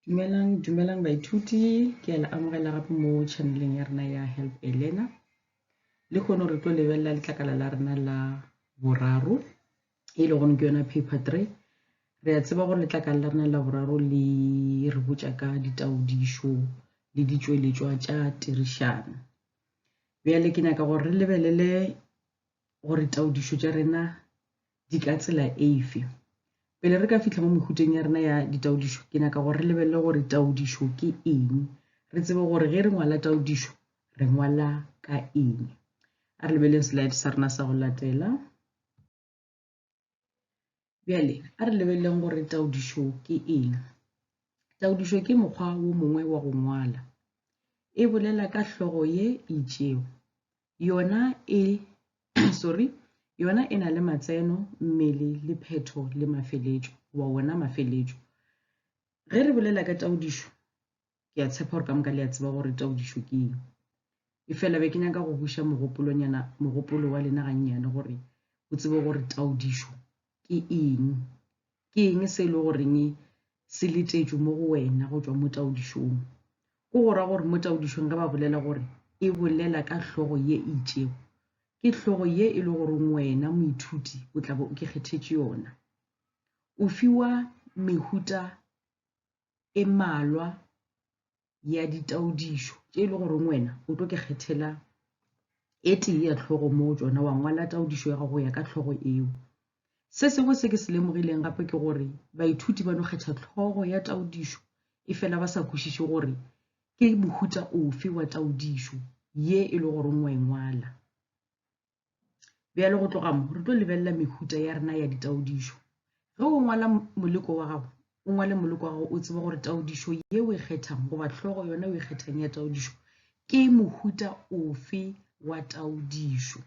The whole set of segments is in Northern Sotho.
dumelang dumelang baithuti ke a le amogela gape mo channeleng ya rena ya help a learner le kgone re tlo lebelela letlakala la rena la boraro e le gone ke yona paper three re a tseba gore letlakala la rena la boraro le re botša ka ditaodišo le ditšweletšwa tša tirišano bjale ke nyaka gore re lebelele gore taodišo tša rena di ka tsela eife pele re ka fitlha mo mehuteng ya rena ya ditaodišo ke nyaka gore re lebelele gore taodišo ke eng re tsebe gore ge re ngwala taodišo re ngwala ka eng a re lebeleng slide sa rena sa go latela bjale a re lebeleleng gore taodišo ke eng taodišo ke mokgwa wo mongwe wa go ngwala e bolela ka hlogo ye itšego yona e sorry yona e na le matseno mmele le phetho le mafeletšo wa wona mafeletšo ge re bolela ka taodišo ke a tshepa gore ka moka le a tseba gore taodišo ke eng e fela be ke nyaka go buša mogopolonyana mogopolo wa lena gannyane gore o tsebe gore taodišo ke eng ke eng se e le goreng se letetšwe mo go wena go tšwa mo taodišong go go ra gore mo taodišong ge ba bolela gore e bolela ka hlogo ye e itšego ke hlogo ye e le goreng wena moithuti o tla bo o ke kgethetše yona o fiwa mehuta e malwa ya ditaodišo tše e le goreng wena o tlo ke kgethela e tee ya tlhogo moo tsona wa ngwala taodišo ya gago ya ka tlhogo eo se sengwe se ke se lemogileng gape ke gore baithuti ba no kgetha tlhogo ya taodišo e fela ba sa kwešiše gore ke mohuta ofe wa taodišo ye e le goreng wa e ngwala bjalo go tloga mo re tlo lebelela mehuta ya rena ya ditaodišo ge o ngwala moleko wa gago o ngwale moleko wa gago o tsebe gore taodišo ye o e kgethang goba tlhogo yona o e kgethang ya taodišo ke mohuta ofe wa taodišo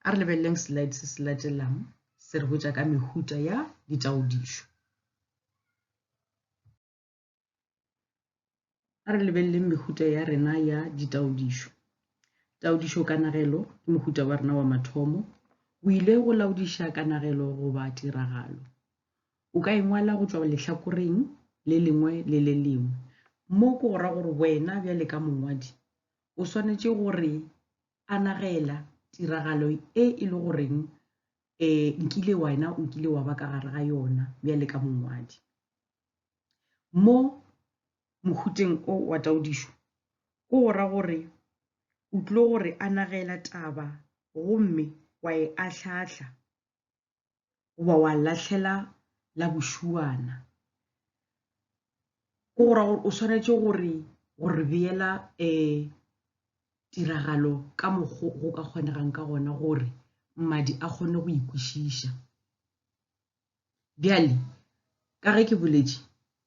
a re lebeleleng slide se se latelang se re botša ka mehuta ya ditaodišo A re lebeleleng mehuta ya rena ya ditaodišo. Taodišo kanagelo ke mohuta wa rena wa mathomo. O ile go laodiša kanagelo goba tiragalo. O ka engwala go tšwa lehlakoreng le lengwe le le lengwe. Mo ke go ra gore wena bjale ka mongwadi o swanetše gore anagela tiragalo e e le goreng um nkile wena o kile wa ba ka gare ga yona bjale ka mongwadi. mo mohuteng o wa taodišo o go ra gore o tlo go re anagela taba gomme wa e ahlahla goba wa lahlela la bošuana. Go go ra gore o swanetše gore go re beela um tiragalo ka mokgo go ka kgonegang ka gona gore mmadi a kgone go e kwešiša. Bjale, ka ge ke boletše,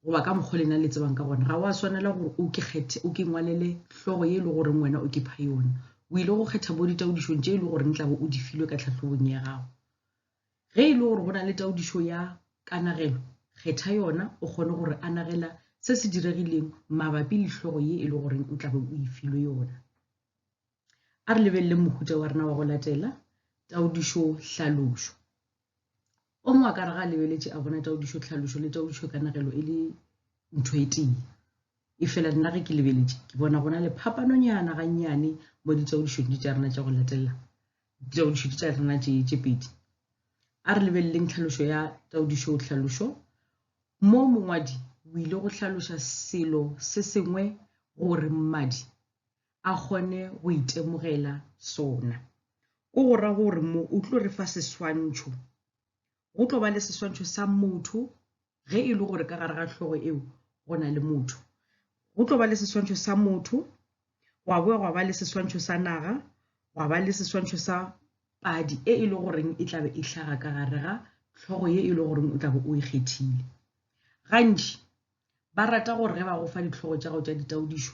goba ka mokgwa lena le tsebang ka gona, ga wa swanela gore o ke kgethe, o ke ngwalele hlogo ye e le goreng wena o ke pha yona. O ile go kgetha bo ditaodišong tše e le goreng tlabe o di filwe ka tlhahlobong ya gago. Ge e le gore go na le taodišo ya kanagelo, kgetha yona o kgone gore anagela se se diregileng mabapi le hlogo ye e le goreng o tlabe o e filwe yona. A re lebeleleng mohuta wa rena wa go latela, taodišo-hlalošo. O mongwe a ka re ga a lebeletše a bona taodišo-tlhalošo le taodišo-kanegelo e le ntho e tee. E fela nna ge ke lebeletše, ke bona gona le phapanonyana gannyane mo ditaodišong tša rena tša go latelela, ditaodišo tša rena tše tše pedi. A re lebeleleng tlhalošo ya taodišo-tlhalošo. Mo mongwadi o ile go hlaloša selo se sengwe gore mmadi a kgone go itemogela sona. Ko go ra gore mo o tlo re fa seswantšho, go tlo ba le seswantšho sa motho ge e le gore ka gare ga hlogo eo go na le motho. Go tlo ba le seswantšho sa motho, gwa boya gwa ba le seswantšho sa naga, gwa ba le seswantšho sa padi e e le goreng e tlabe e hlaga ka gare ga hlogo ye e le goreng o tlabe o e kgethile. Gantši Ba rata gore ge ba go fa ditlhogo tša gago tša ditaodišo,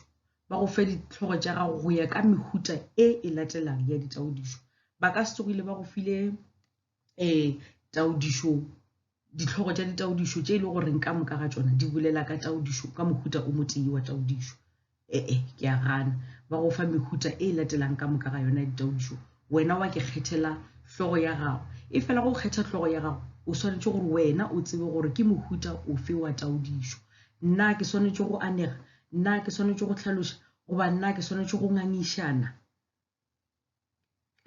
ba go fe ditlhogo tša gago go ya ka mehuta e e latelang ya ditaodišo. Ba ka se tsogile ba go file um taodišo ditlhogo tša ditaodišo tše e le goreng ka moka ga tšona di bolela ka taodišo ka mohuta o motee wa taodišo. E-e, ke a gana. Ba go fa mehuta e latelang ka moka ga yona ya ditaodišo. Wena wa ke kgethela hlogo ya gago. E fela go kgetha hlogo ya gago, o swanetše gore wena o tsebe gore ke mohuta ofe wa taodišo. Na ke swanetše go anega? Na ke swanetše go hlaloša? Goba na ke swanetše go ngangišana?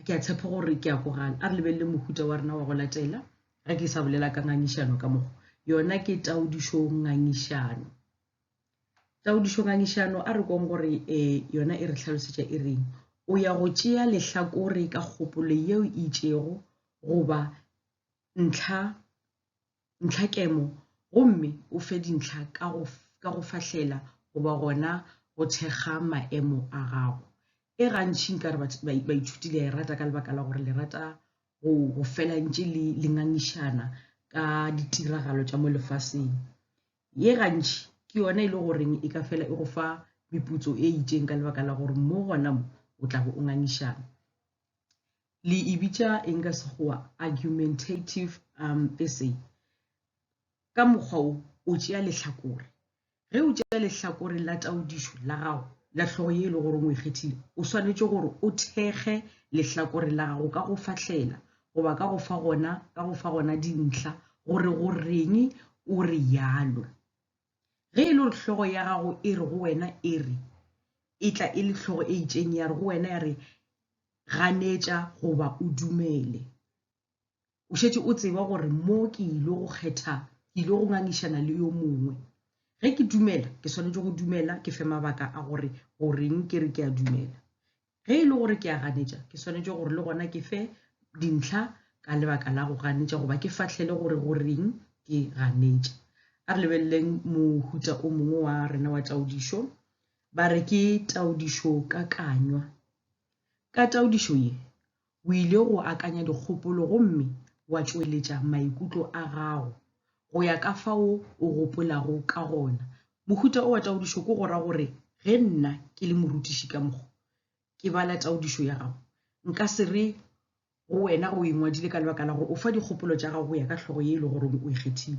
ke a tshepa gore ke a kogana a re lebelele mohuta wa rena wa go latela ge ke sa bolela ka ngangišano ka mogo yona ke taodišo ngangišano taodišo ngangišano a re kong gore um yona e re tlhalosetša e reng o ya go tšea lehlakore ka kgopolo yeo e itšego goba ntlha ntlhakemo gomme o fe dintlha ka go, ka go fahlela goba gona go thekga maemo a gago. E gantši nka re baithuti le a e rata ka lebaka la gore le rata go, go fela ntše le, le ngangišana ka ditiragalo tša mo lefaseng. Ye gantši ke yona e le goreng e ka fela e go fa meputso e itšeng ka lebaka la gore mo gona mo o tla bo o ngangišana. le e bitša eng ka sekgowa argumentative um, essay ka mokgwa o o tšea lehlakore ge o tšea lehlakore la taodišo la gago la hlogo ye e le goreng o e kgethile o swanetše gore o thekge lehlakore la gago ka go fahlela goba ka go fa gona ka go fa gona dintlha gore go reng o re yalo ge e le gore hlogo ya gago e re go wena e re e tla e le hlogo e itšeng ya re go wena ya re Ganetša goba o dumele. O šetše o tseba gore mo ke ile go kgetha, ke ile go ngangišana le yo mongwe. Ge ke dumela, ke swanetše go dumela, ke fe mabaka a gore goreng ke re ke a dumela. Ge e le gore ke a ganetša, ke swanetše gore le gona ke fe dintlha ka lebaka la go ganetša goba ke fahlele gore goreng ke ganetša. A re lebeleleng mohuta o mongwe wa rena wa taodišo. Ba re ke taodišokakanywa. Ka taodišo ye, o ile go akanya dikgopolo gomme wa tšweletša maikutlo a gago go ya ka fao o gopolago ka gona. Mohuta o wa taodišo ke go ra gore ge nna ke le morutiši ka mokgo ke bala taodišo ya gago, nka se re Go wena, o e ngwadile ka lebaka la gore o fa dikgopolo tša gago go ya ka hlogo ye e le goreng o e kgethile.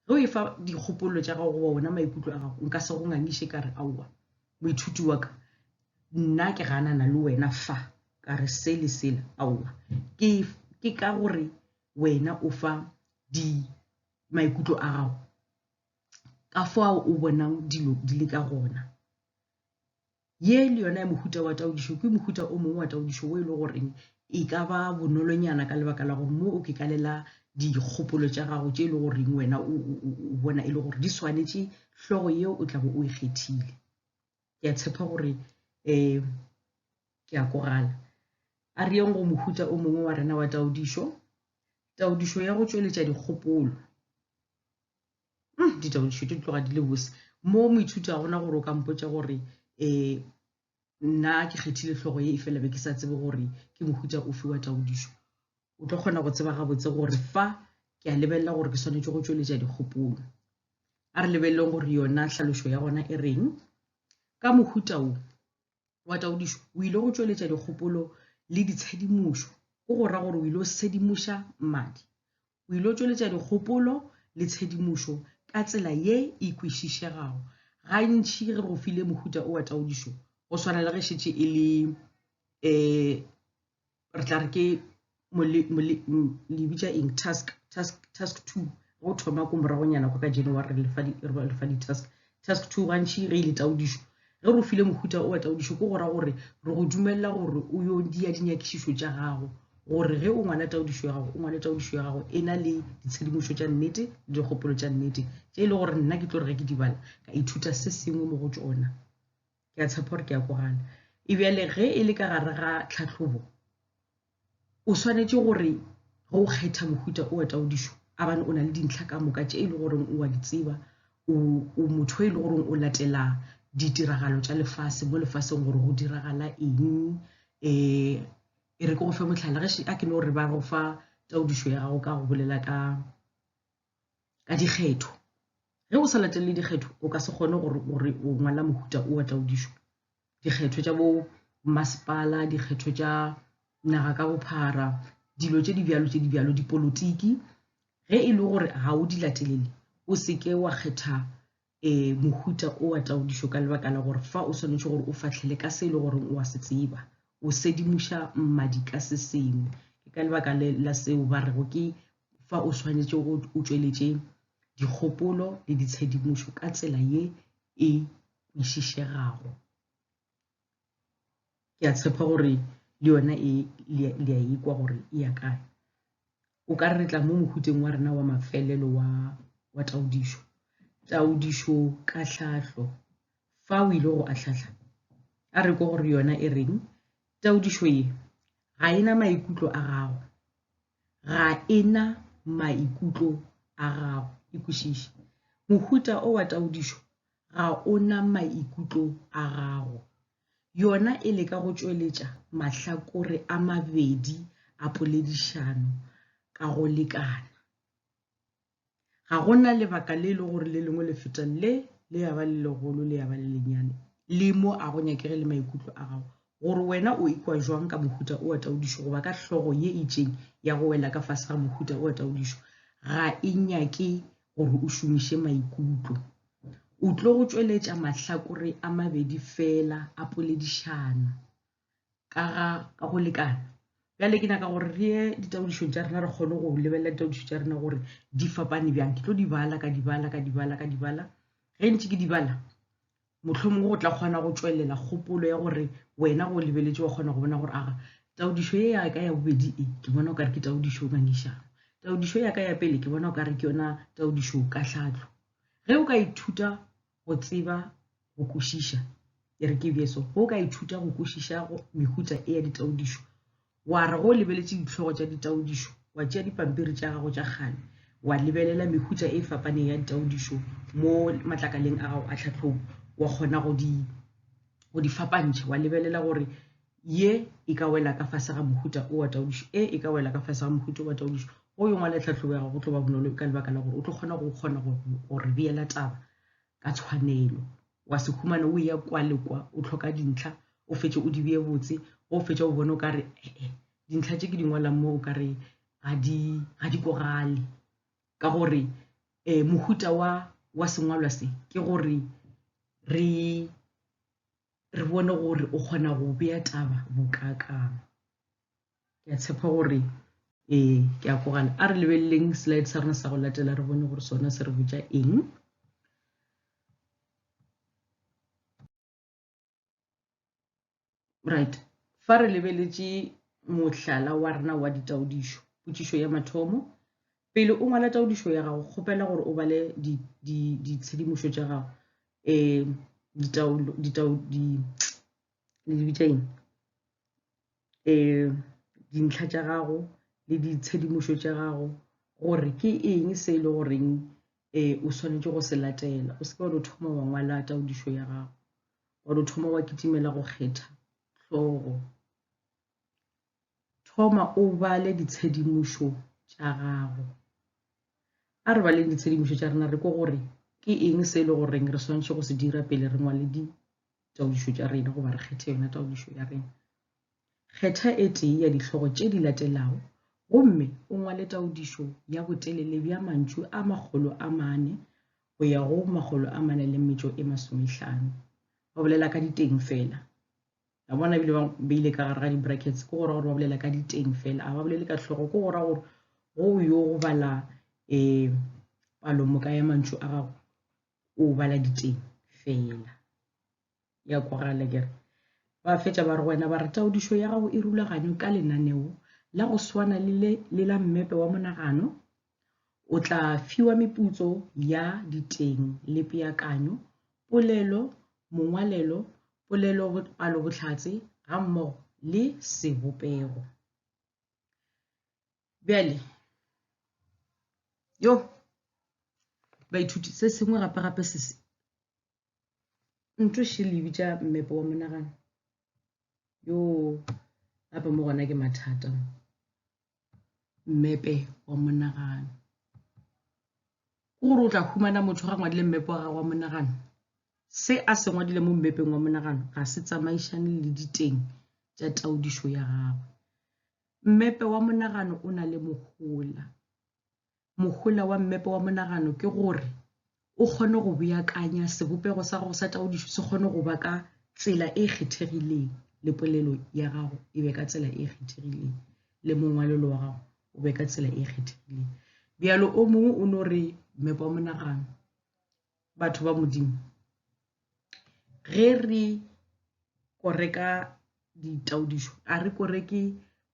Ge o e fa dikgopolo tša gago goba wona maikutlo a gago, nka se go ngangiše ka re, Aowa, moithuti wa ka, nna ke ganana le wena fa ka re se le sela. Aowa, ke, ke ka gore wena o fa di maikutlo a gago ka fao o bonang dilo di le ka gona. Ye le yona ya mohuta wa taodišo ke mohuta o mongwe wa taodišo wo e le goreng e ka ba bonolonyana ka lebaka la gore mo o kekalela dikgopolo tša gago tše e le goreng wena o bona e le gore di swanetše hlogo yeo o tlago o e kgethile. Ke a tshepa gore um ke a kwagala. A re yeng go mohuta o mongwe wa rena wa taodišo, taodišo ya go tšweletša dikgopolo. mm, ditaba ditšhuto di tloga di le bose mo moithuti a gona gore o ka mpotsa gore um nna ke kgethile tlhogo ye e fela be ke sa tsebe gore ke mohuta o fiwa taodišo o tlo kgona go tseba gabotse gore fa ke a lebelela gore ke swanetse go tsweletša dikgopolo a re lebeleleng gore yona tlhalošo ya gona e reng ka mohuta o wa taodišo o ile go tšweletša dikgopolo le ditshedimošo go go ra gore o ile o sedimoša mmadi o ile o tšweletša dikgopolo le tshedimošo ka tsela ye e kwešišegago gantši ge go file mohuta o wa taodišo go swana le ge šetše e le um re tla re ke lebitša eng task task task two go thoma ko moragonyana kwa ka january re lefa di-task task two gantšhi ge e le taudišo ge re file mohuta o wa taudišo ko go ra gore re go dumelela gore o yo dia dinyakišišo tša gago gore ge o ngwala taudišo ya gago o ngwale taudišo ya gago e na le ditshedimošo tša nnete le dikgopolo tša nnete tše e le gore nna ke tlo re ge ke di bala ka ithuta se sengwe mo go tsona ke a tshepa gore ke ya ko gana e bjale ge e le ka gare ga tlhatlhobo o swanetše gore ge o kgetha mohuta o etaodišo a bane o na le dintlha ka moka tše e le goreng o a di tseba o motho e le goreng o latela ditiragalo tša lefase mo lefaseng gore go diragala eng um e re ke go fe motlhala ge a ke no re ba go fa taodišo ya gago ka go bolela ka ka dikgetho ge o sa latelele dikgetho o ka se kgone gore gore o ngwala mohuta o wa taodišo dikgetho tša bo masepala dikgetho tša naga ka bophara dilo tše di bjalo tše di bjalo dipolotiki ge e le gore ga o di latelele o seke wa kgetha e mohuta o wa taodišo ka lebaka la gore fa o swanetše gore o fahlele ka se e le goreng o a se tseba o sedimuša mmadi ka se sengwe ke ka lebaka la seo ba rego ke fa o swanetše go o tšweletše dikgopolo le ditshedimušo ka tsela ye e kwešišegago ke a tshepa gore le yona e le a ikwa gore e ya kae o ka re tla mo mohuteng wa rena wa mafelelo wa wa taudišo taudišo ka hlahlo fa o ile go ahlahla a re ko gore yona e reng taudišo ye ga e na maikutlo a gago ga e na maikutlo a gago e kwešiše mohuta o wa taudišo ga o na maikutlo a gago. Yona e leka go tšweletša mahlakore a mabedi a poledišano ka go lekana. Ga go na lebaka le e le gore le lengwe le feta le, le ya ba le legolo le ya ba le lenyane, le mo a go nyakege le maikutlo a gago gore wena o ikwa jwang ka mohuta o wa taodišo goba ka hlogo ye itšeng ya go wela ka fase ga mohuta o wa taodišo ga e nyake gore o šomiše maikutlo. O tlo go tšweletša mahlakore a mabedi feela a poledišano ka ga ka go lekana. Bjale ke nyaka gore re ye ditaodišong tša rena re kgone go lebelela ditaodišo tša rena gore di fapane bjang. Ke tlo di bala ka di bala ka di bala ka di bala ge ntše ke di bala Mohlomongwe go tla kgona go tšwelela kgopolo ya gore wena go lebeletše wa kgona go bona gore aga taodišo ye ya ka ya bobedi e ke bona o ka re ke taodišo ngangišano. Taodišo ya ka ya pele ke bona o ka re ke yona taodišo ka tlhatlo. Ge o ka ithuta go tseba go kwešiša, e re ke bje so, ge o ka ithuta go kwešiša mehutsa e ya ditaodišo, wa re go o lebeletše ditlhogo tša ditaodišo wa tšea dipampiri tša gago tša kgale wa lebelela mehutša e fapaneng ya ditaodišo mo matlakaleng a gago a tlhatlhobo wa kgona go di go di fapantšha wa lebelela gore ye e ka wela ka fase ga mohuta o wa taodišo e e ka wela ka fase ga mohuta o wa taodišo go yo ngwala tlhatlhobo ya gago go tlo ba bonolo ka lebaka la gore o tlo kgona go kgona go re beela taba ka tshwanelo wa se humana o eya kwa le kwa o tlhoka dintlha o fetše o di beye botse go o fetša o bone o ka re ee dintlha tše ke di ngwalang mo o ka re ga di ga di kogale ka gore um mohuta wa wa sengwalwa se ke gore re re bone gore o kgona go bea taba bokakang ke a tshepa gore ee ke a kwagala a re lebeleleng slide sa rona sa go latela re bone gore sona se re botša eng right fa re lebeletše mohlala wa rena wa ditaodišo potšišo ya mathomo pele o ngwala taodišo ya gago kgopela gore o bale ditshedimošo tša gago um le di bitša eng um dintlha tša gago le ditshedimošo tša gago gore ke eng se e le goreng um o swanetše go se latela o seke wa no thoma wa ngwala taodišo ya gago wa no thoma wa kitimela go kgetha hlogo thoma o bale ditshedimošo tša gago a re baleng ditshedimošo tša rena re ko gore ke eng se e le goreng re swanetše go se dira pele re ngwale ditaodišo tša rena goba re kgethe yona taodišo ya rena kgetha e tee ya dihlogo tše di latelago gomme o ngwale taodišo ya botelele bja mantšu a makgolo a mane go ya go makgolo a mane le metšo e masomehlano ba bolela ka diteng fela a bona ebile ba beile ka gare ga di-brackets ke gora gore ba bolela ka diteng fela a ba bolele ka tlhogo ke gora gore go yo go bala um palomoka ya mantšu a gago o bala diteng fela ya kwagala kere ba fetša ba re wena ba re taodišo ya gago e rulaganywe ka lenaneo la go swana le la mmepe wa monagano O tla fiwa meputso ya diteng le peakanyo, polelo, mongwalelo, polelo-palobohlatse gammogo le sebopego. Bjale, yo, baithuti, se sengwe gape-gape se ntho she le bitša mmepe wa monagano yo gape mo gona ke mathata mmepe wa monagano ke gore o tla humana motho ga ngwadile mmepe wa gago wa monagano se a se ngwadile mo mmepeng wa monagano ga se tsamaišane le diteng tša taudišo ya gagwe mmepe wa monagano o na le mohola Mohola wa mmepe wa monagano ke gore o kgone go beakanya sebopego sa gago sa taodišo se kgone go ba ka tsela e kgethegileng le polelo ya gago e be ka tsela e kgethegileng le mongwalelo wa gago o be ka tsela e kgethegileng bjalo o mongwe o no re mmepe wa monagano batho ba modimo ge re koreka ditaodišo a re koreke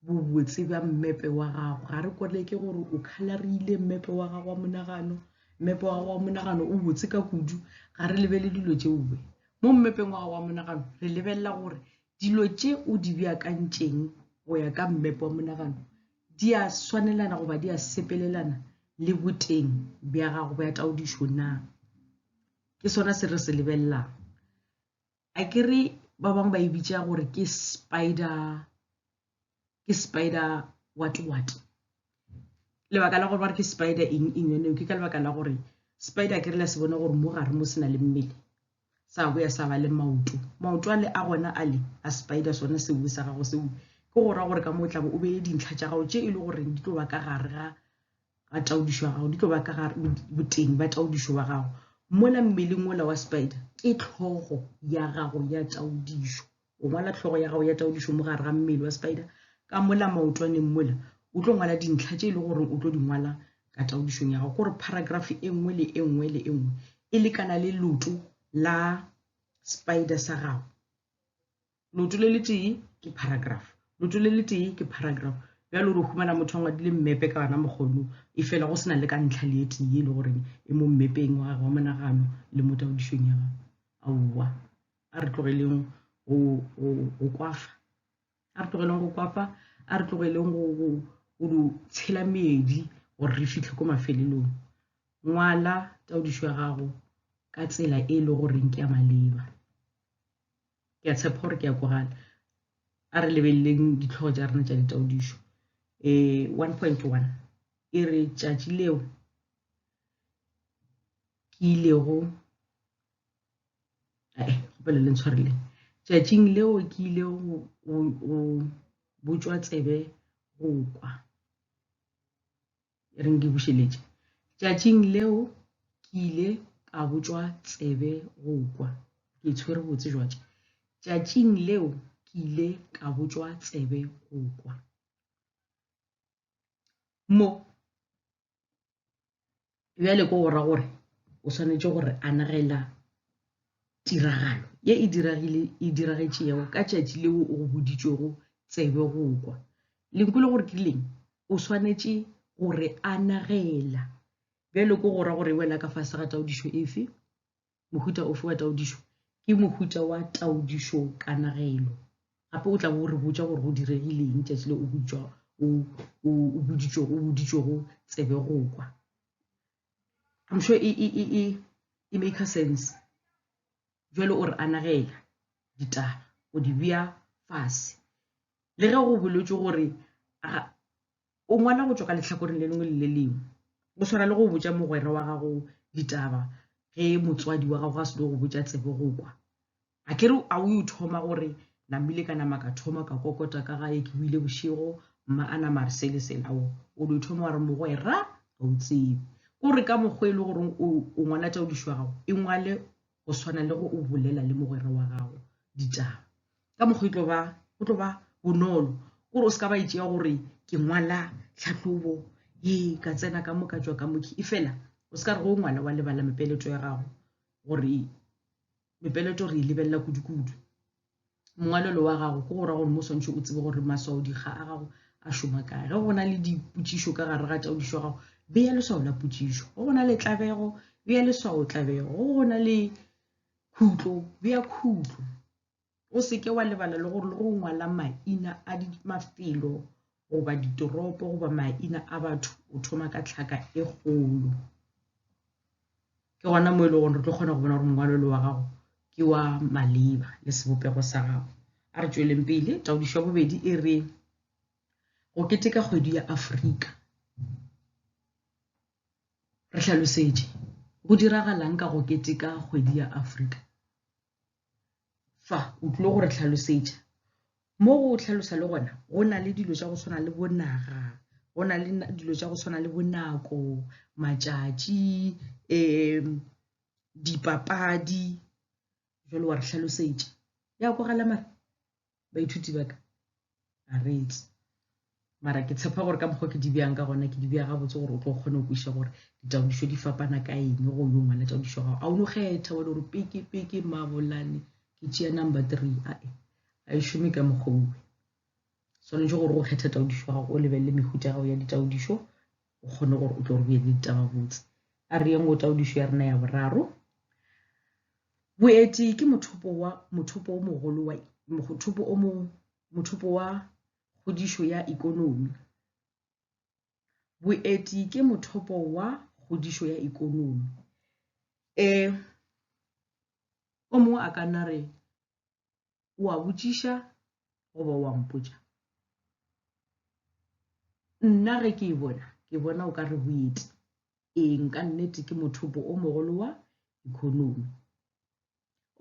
bobotse bja mmepe wa gago ga re koreke gore o khalarile mmepe wa gago wa monagano mmepe wa gago wa monagano o botse ka kudu ga re lebele dilo tšeoe mo mmepeng wa gago wa monagano re lebelela gore dilo tše o di beakantšeng go ya ka mmepe wa monagano di a swanelana goba di a sepelelana le boteng bja gago bja taodišo na ke sona se re se lebelelang a ke re ba bangwe ba e bitša gore ke spider ke spider what what lebaka la gore ba re ke spider eng eng yone ke ka lebaka la gore spider ke re la se bone gore mo gare mo se na le mmele sa boya sa ba le maoto. Maoto a le a gona a le a spider, sona seue sa gago seo, ke go ra gore ka mo o tlabe o beye dintlha tša gago tše e le goreng di tlo ba ka gare ga ga taodišo ya gago di tlo ba ka gare boteng ba taodišo wa gago mola mmeleng ola wa spider ke tlhogo ya gago ya taodišo o ngwala hlogo ya gago ya taodišo mo gare ga mmele wa spider ka mola maotwaneng mola o tlo ngwala dintlha tše e le gore o tlo di ngwala ka taodišong ya gago gore paragraph e nngwe le e nngwe le e nngwe e lekana le loto la spider sa gago loto le le tee ke paragraph loto le le tee ke paragraph bjale gore o humana motho a ngwadile mmepe ka ona mokgono e fela go sena le ka ntlha le etee e le goreng e mo mmepeng wa gagwe wa monagano le mo taodišong ya gago aowa a re tlogeleng go kwafa a re tlogeleng go kwafa a re tlogeleng go di tshela meedi gore re fitlhe ko mafelelong ngwala taodišo ya gago ka tsela e le goreng ke ya maleba ke a tshepa gore ke ya kwagala a re lebeleleng ditlhogo tša rena tša ditaodišo eh, um one point one e re tšatši leo ke ilego kgopele le ntshwarele tšatšing leo ke ile go botšwa tsebe go kwa e reng ke bušeletše tšatšing leo ke ile ka botšwa tsebe go kwa ke tshwere botse jwatše tšatšing leo ke ile ka botšwa tsebe go kwa mo bjale ko go ra gore o swanetše gore anagela tiragalo ye e diragile e diragetšego ka tšatši leo o go boditšwego tsebe go kwa lenko le gore ke leng o swanetše gore anagela bjale ko go ra gore e wela ka fase ga taodišo efe mohuta ofe wa taodišo ke mohuta wa taodišo kanagelo gape o tla bo re botša gore go diregileng tšatši le o butšwa o boditšwego tsebe go kwa I'm sure e, e, e, e, e make sense jalo o re anagela ditaba o di bea fase le ge go bolwetše gore o ngwala go tšwa ka lehlakoreng le lengwe le le lengwe go swana le go botša mogwera wa gago ditaba ge motswadi wa gago ga se go botša tsebo go kwa a kere a o yo thoma gore namile ka nama ka thoma ka kokota ka gae ke buile bošego mma a nama re sele selao o lo thoma wa re mogwera ga o tsebe ko re ka mokgwa e le goreng o ngwana tša o dišwa gago e ngwale go swana le go o bolela le mogwera wa gago ditaba ka mokgwa e tlo ba go tlo ba bonolo gore o se ka ba e tšea gore ke ngwala tlhahlobo ee ka tsena ka moka jwa ka mokhi e fela o se ka re go ngwala wa lebala mepeleto ya gago gore mepeleto re e lebelela kudu-kudu mongwalelo wa gago ke go ra gore mo swantšhe o tsebe gore maswaodikga a gago a šoma kae ge go na le dipotšišo ka gare ga taodišo ya gago beya leswao la potšišo go go na le tlabego beya leswao tlabego go go na le khutlo beya khutlo o seke wa lebala le gore le go ngwala maina a mafelo goba ditoropo goba maina a batho o thoma ka tlhaka e kgolo Ke gona mo e lego gore re tlo kgona go bona gore mongwalo le wa gago ke wa maleba le sebopego sa gago. A re tšweleng pele, taodišo ya bobedi e re go keteka kgwedi ya Afrika. Re hlalosetše go diragalang ka go keteka kgwedi ya Afrika. fa o tlile go re tlhalosetša mo go tlhalosa le gona go na le dilo tša go tshwana le bonaga go na le dilo tša go tshwana le bonako matšatši um dipapadi jalo wa re hlalosetša ya kwagala mare baithuti ba ka a re etse mara ke tshepa gore ka mokgwa ke di bjang ka gona ke di bja gabotse gore o tlo kgone go kwiša gore ditaodišo di fapana ka eng go yo ngwala taodišo gago a o no kgetha wa le gore peke peke mabolane ke tšea number three ae a e šome ka mokgwa uwe swanetše gore go kgetha taodišo gago o lebelele mehuta gago ya ditaodišo o kgone gore o tlo re bjedi ditaba botse a re yeng go taodišo ya rena ya boraro boeti ke mothopo wa mothopo o mogolo wa mothopo o mo mothopo wa kgodišo ya ikonomi boeti ke mothopo wa kgodišo ya ikonomi um o mongwe a ka nna re o a botšiša goba o a mpotša nna ge ke e bona ke bona o ka re go ete eng ka nnete ke mothopo o mogolo wa economy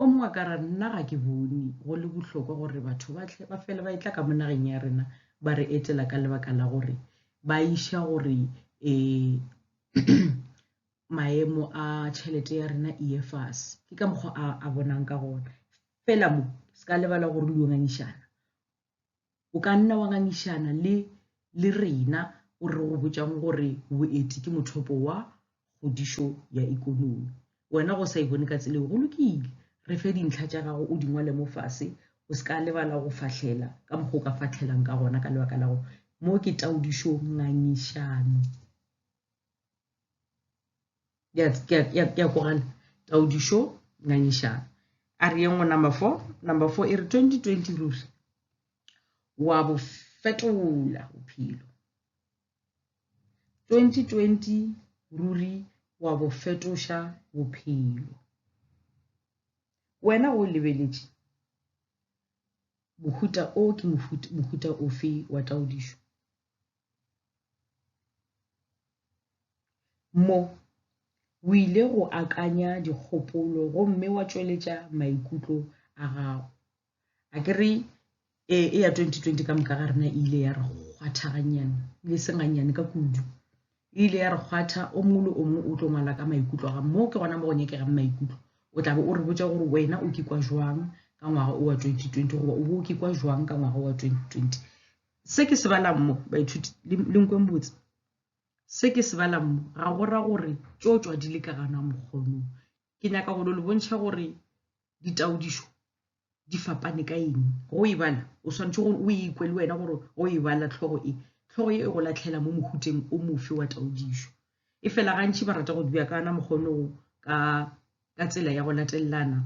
o mongwe a ka ra nna ga ke bone go le bohlokwa gore batho ba tle ba fele ba etla ka mo nageng ya rena ba re etela ka lebaka la gore ba iša gore um maemo a tšhelete ya rena e ye fase ke ka mokgwa a, a bonang ka gona fela mo se ka lebala gore le yo ngangišana o ka nna wa ngangišana le le rena o re go botšang gore boeti ke mothopo wa kgodišo ya ikonomi wena go sa e bone ka tseleo go lokile re fe dintlha tša gago o di ngwale mo fase o se ka lebala go fahlela ka mokgwa o ka fahlelang ka gona ka lebaka la gore mo ke taodišo ngangišano ke a kogana taodišo ngangišana a re yengwe number four number four e re 2020 ruri wa bo fetola bophelo 2020 ruri wa bo fetoša bophelo wena o lebeletše mohuta o ke mohuta ofe wa taodišo Mo, o ile go akanya dikgopolo gomme wa tšweletša maikutlo a gago. A ke re e, e ya 2020 ka moka ga rena e ile ya re kgwatha gannyane, e le senganyane ka kudu. E ile ya re kgwatha, o mongwe le o mongwe o tlo ngwala ka maikutlo ga mo ke gona mo go nyekegang maikutlo. O tla be o re botsa gore wena o kikwa jwang ka ngwaga o wa 2020 goba o bo o kikwa jwang ka ngwaga wa 2020. Se ke se balang mo, baithuti, le nkweng botse, se ke se balang mo ga go ra gore tšo tšwa di le ka gana mokgonong. Ke nyaka go le bontšha gore ditaodišo di fapane ka eng. Go e bala o swanetše gore o ikwe le wena gore go e bala tlhogo e tlhogo e go latlhela mo mohuteng o mofe wa taodišo. E fela gantši ba rata go di beakana mokgonong ka ka tsela ya go latelelana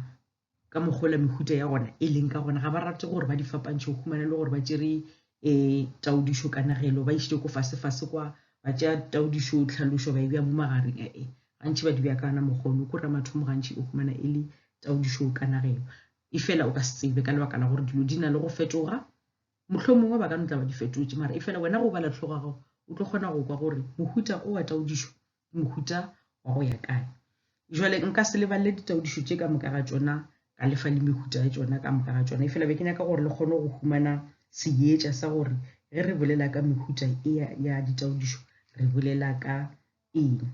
ka mokgola mehuta ya gona e leng ka gona ga ba rate gore ba di fapantšhe o humane le gore ba tšere um eh, taodišo ka nagelo ba išite ko fasefase kwa ba tšea taodišo tlhalošo ba e bja mo magareng ee eh, gantši ba di bja kana mokgono ko ra mathomo gantši o humana e le taodišo ka nagelo e fela o ka se tsebe ka lebaka la gore dilo di na le go fetoga motlho mongwe ba ka no tla ba di fetotše mara e fela wena go bala tlhogo gago o tlo kgona go kwa gore mohuta o wa taodišo mohuta wa go ya kae jwale nka se lebalele ditaodišo tše ka moka ga tšona ka lefa le mehuta ya tšona ka moka ga tšona e fela be ke nyaka gore le kgone go humana seetša sa gore ge re bolela ka mehuta e ya ditaodišo re bolela ka eng um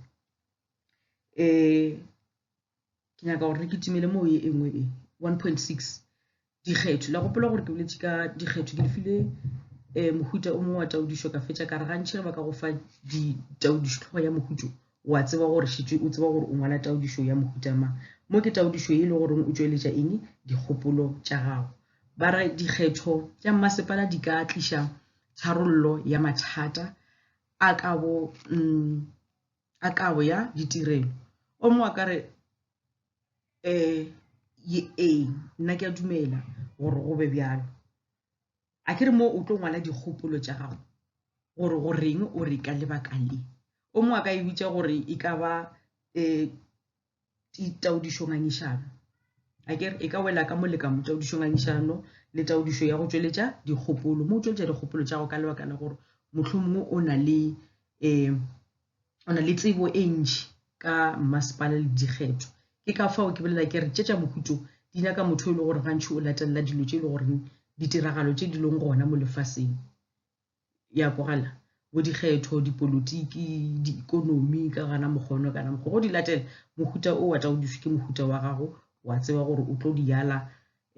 ke nyaka gore re kitimele moo ye e nngwe e 1.6 dikgetho la gopola gore ke boletše ka dikgetho ke lefile um mohuta o mongwe wa taudišo ka fetša ka re gantšhe ge ba ka go fa ditaudišo tlhogo ya mohutso wa tseba gore šitse o tseba gore o ngwala taudišo ya mohuta ma mo ke taudišo e le goreng o tšweletša eng dikgopolo tša gago ba re dikgetho tša mmasepala di ka tliša tharollo ya mathata a ka bo um a kabo ya ditirelo o mongwe a ka re um ee nna ke a dumela gore go be bjalo a ke re mo o tlo ngwala dikgopolo tša gago gore go reng o re ka lebaka le o mongwe a ka e bitša gore e ka ba um taodišo ngangišano a ke e ka wela ka moleka mo taodišo ngangišano le taodišo ya go tšweletša dikgopolo mo o tšweletša dikgopolo tša go ka lebaka la gore mohlho mongwe o na le um o na le tsebo e ntši ka mmasepala le dikgetho ke ka fao ke bolela ke re tše tša mohuto di nyaka motho e le gore gantšhi o latelela dilo tše e le goreng ditiragalo tše di leng gona mo lefaseng ya kwagala bo dikgetho dipolotiki diikonomi ka gana mokgono kana mokgwa go di latela mohuta o wa tla o duswe ke mohuta wa gago wa tseba gore o tlo di yala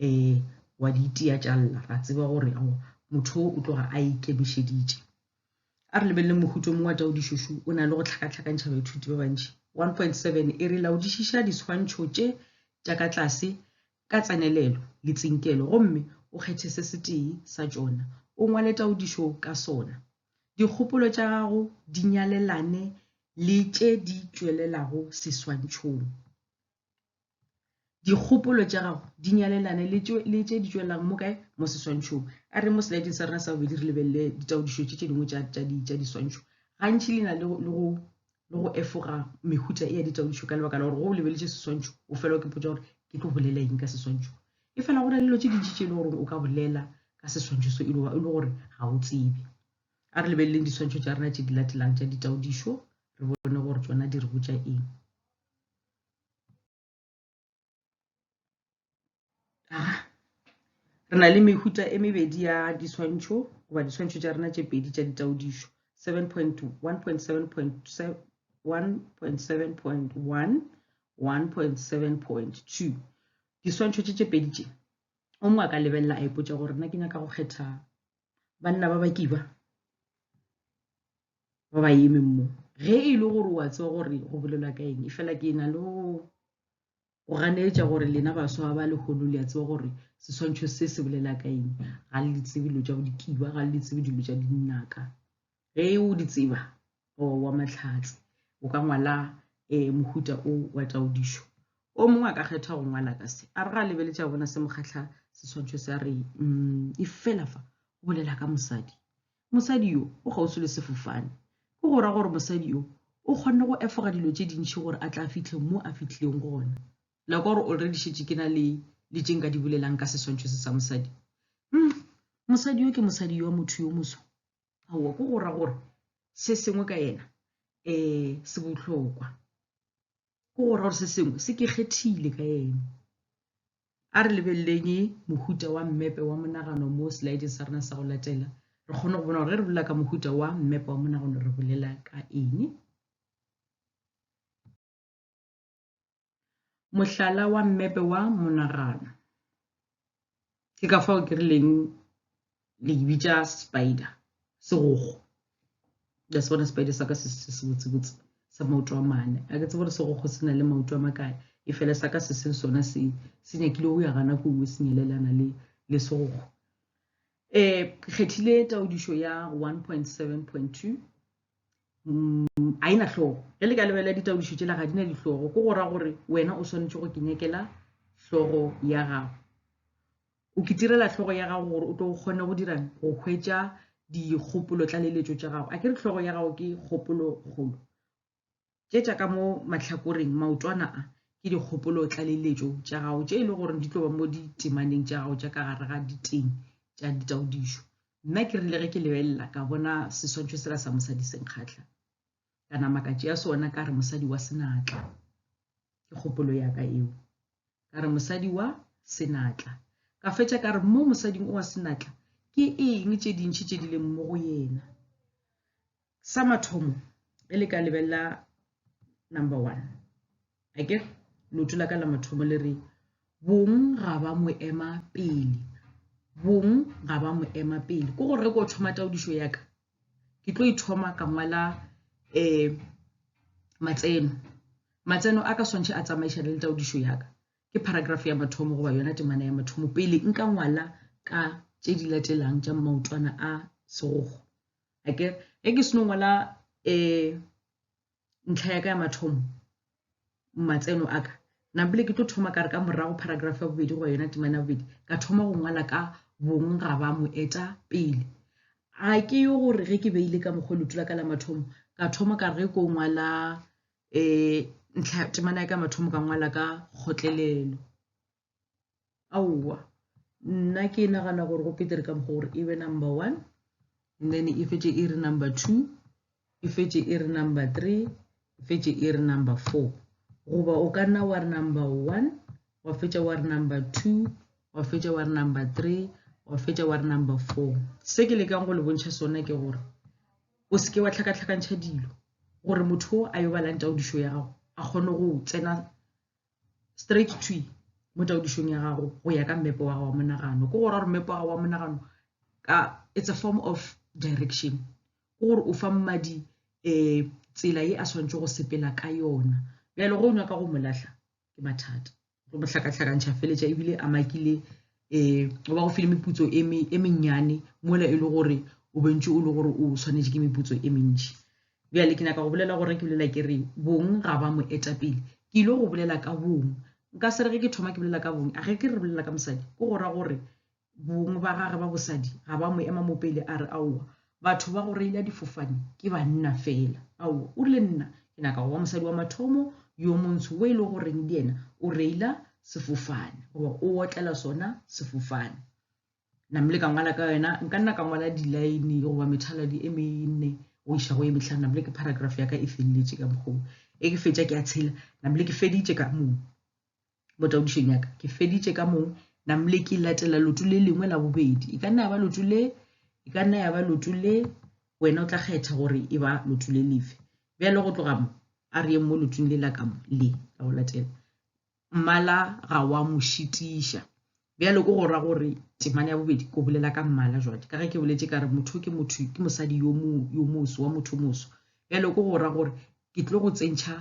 um wa di itia tšalla ra tseba gore ao motho o tloga a ikemišeditše a re lebelele mohuta mongwe wa tao dišošu o na le go tlhakatlhakantšha baithuti ba bantši 1.7 e re laodišiša diswantšho tše tša ka tlase ka tsenelelo le tsinkelo gomme o kgethe se setee sa tšona o ngwale taodišo ka sona. Dikgopolo tša gago di nyalelane le tše di tšwelelago seswantšhong. Dikgopolo tša gago di nyalelane le tše di tšwelelang mo kae? Mo seswantšhong. A re mo selaeding sa rena sa bobedi re lebelele ditaodišo tše tše dingwe tša diswantšho. Gantši le na le go le go efoga mehuta e ya ditaodišo ka lebaka la gore go o lebeletše seswantšho o fela o ke potsa gore ke tlo bolela eng ka seswantšho e fela go na le dilo tše dintši tše e le gore o ka bolela ka seswantšho so e le e gore ga o tsebe a re lebeleleng diswantšho tša rena tše di latelang tša ditaodišo re bone gore tsona di re botša eng ah, re na le mehuta e mebedi ya diswantšho goba diswantšho tša rena tše pedi tša ditaodišo 7.1.7.1.7.1.7.2 diswantšho tše tše pedi tše o mongwe a ka lebelela a ipotsa gore nna ke nyaka go kgetha banna ba bakiba ba ba emeng mo ge e le gore wa tseba gore go bolelwa ka eng e fela ke na le go ganeetša gore lena baswa ba legolo le a tseba gore seswantšho se se bolela ka eng ga le tsebe dilo tša bodikiba ga le tsebe dilo tša dinaka ge o di tseba wa matlhatse o ka ngwala um mohuta o wa taodišo o mongwe a ka kgetha go ngwala ka se a re ga a lebeletse a bona se mokgatlha seswantšho se a re um e fela fa o bolela ka mosadi Mosadi yo o kgauswi le sefofane. Ke go ra gore mosadi yo o kgonne go efoga dilo tše dintši gore a tla fihle mo a fihlileng gona. La kwa gore already šetše ke na le le tše nka di bolelang ka seswantšho se sa mosadi. Umm, mosadi yo ke mosadi yo wa motho yo moswa. Aowa, ke go ra gore se sengwe ka yena eh se bohlokwa. ke gore gore se sengwe se ke kgethile ka ene a re lebeleleng mohuta wa mmepe wa monagano mo slideng sa rena sa go latela re kgone go bona gore ge re bolela ka mohuta wa mmepe wa monagano re bolela ka eng mohlala wa mmepe wa monagano ke ka fao ke rileng le ke bitša spider segogo ya se bona spider sa ka se se botsebotse sa maoto a mane a ke tse gore segogo se na le maoto a makae e fele sa ka se se sona se se nyakile go ya gana ko o se nyalelana le le segogo E kgethile taodišo ya 1.7.2 a ena hlogo. Ge le ka lebelela ditaodišo tšela ga di na dihlogo, ko go ra gore wena o swanetše go ke nyakela hlogo ya gago. O ke tirela hlogo ya gago gore o tlo kgone go dirang go hwetša dikgopolo tlaleletšo tša gago. A ke re hlogo ya gago ke kgopolo kgolo. tše tša ka mo mahlakoreng maotwana a ke dikgopolo tlaleletšo tša gago tše e le gore di tlo ba mo ditemaneng tša gago tša ka gare ga diteng tša ditaodišo nna ke rile ge ke lebelela ka bona seswantšho sela sa mosadi senkgatlha ka nama ka tšea sona ka re mosadi wa senatla ke kgopolo ya ka eo ka re mosadi wa senatla ka fetša ka re mo mosading o wa senatla ke eng tše dintšhi tše di leng mo go yena Sa mathomo ge le ka lebelela number one a ke loto la ka la mathomo le re bong ga ba mo ema pele bong ga ba mo ema pele ko gore ko thoma taodišo ya ka ke tlo ithoma ka ngwala um matseno matseno a ka swantšhe a tsamaišane le taodišo ya ka ke paragraph ya mathomo goba yona temana ya mathomo pele nka ngwala ka tše di latelang tša maotwana a segogo a ke ge ke seno ngwala um ntlha ya ka ya mathomo matseno a ka nampile ke tlo thoma ka re ka morago paragraph ya bobedi goba yona temana ya bobedi ka thoma go ngwala ka bong ga ba mo eta pele ga ke yo gore ge ke beile ka mokgwa letu la ka la mathomo ka thoma ka re ge ko ngwala um ntlha temana ya ka mathomo ka ngwala ka kgotlelelo aowa nna ke nagana gore go petere ka mokgwa gore e be number one and then e fetše e re number two e fetše e re number three e fetše e re number four goba o ka nna wa re number one wa fetša wa re number two wa fetša wa re number three wa fetša wa re number four se ke lekang go le bontšha sona ke gore o seke wa tlhakatlhakantšha dilo gore motho o a yo balantša odišo ya gago a kgone go tsena straight to mo taodišong ya gago go ya ka mmepe wa gago wa monagano ke gore gore mmepe wa gago wa monagano ka it's a form of direction ke gore o fa mmadi um tsela ye a swanetse go sepela ka yona bjale go nyaka go mo lahla ke mathata go mo hlakahlakantšha feletša ebile a makile um o ba go file meputso e, e mennyane mola e le gore o bentše o le gore o swanetše ke meputso e mentši bjale ke nyaka go bolela gore ke bolela ke re bong ga ba mo etapele ke ile go bolela ka bong nka se re ge ke thoma ke bolela ka bong a ge ke re bolela ka mosadi ke go ra gore bong ba gage ba bosadi ga ba mo ema mo pele a re aowa batho ba go reila difofane ke banna fela ao o rile nna ke naka goba mosadi wa mathomo yo montsho o e le goreng le yena o reila sefofane goba o otlela sona sefofane namle ka ngwala ka yona nka nna ka ngwala dilaene goba methaladi e menne go iša go e metlhano namle ke paragraph ya ka e feleletše ka mokgoo e ke fetša ke a tshela namle ke feditše ka moo Mo taodišong ya ka, ke feditše ka mong namle ke latela lotu le lengwe la bobedi. E ka nna ya ba lotu le, e ka nna ya ba lotu le, wena o tla kgetha gore e ba lotu le lefe. Bjale go tloga mo, a re yeng mo lotung le la ka mo, le la go latela. Mmala ga wa mo šitiša. Bjale ko go ra gore temana ya bobedi, ko bolela ka mmala jwale, ka ge ke boletše ka re motho ke motho, ke mosadi yo mo, yo moso, wa motho moso. Bjale ko go ra gore ke tlo go tsentšha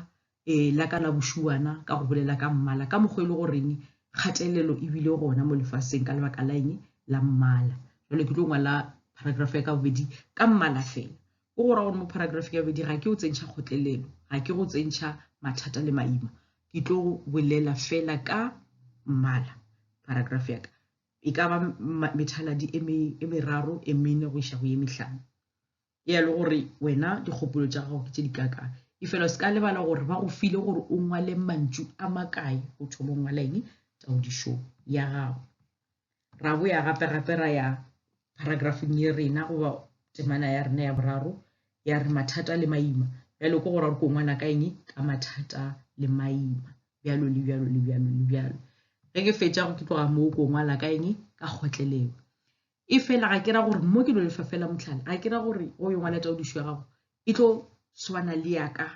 e, la ka la bošuana ka go bolela ka mmala ka mokgwa e le goreng kgatelelo e bile gona mo lefaseng ka lebaka la eng la mmala jalo ke tlo ngwala paragraph ya ka bobedi ka mmala fela o go ra gore mo paragraph ya bobedi ga ke o tsentšha kgotlelelo ga ke go tsentšha mathata le maima ke tlo bolela fela ka mmala paragraph ya ka e ka ba methaladi e meraro e mene go iša go ye mehlano e a le gore wena dikgopolo tša gago ke tše di kaka e fela o se ka lebala gore ba go file gore o ngwale mantšu a makae go thoma o ngwala eng taodišo ya gago ra bo ya gape gape ra ya paragrafeng ye rena goba temana ya rena ya boraro ya re mathata le maima bjalo ke gore ko ngwana ka eng ka mathata le maima bjalo le bjalo le bjalo le bjalo ge ke fetša go ke tloga moo ko ngwala ka eng ka kgotlelelo e fela ga ke ra gore mo ke no lefa fela motlhala ga ke ra gore o yo ngwala taodišo ya gago e tlo swana le yaka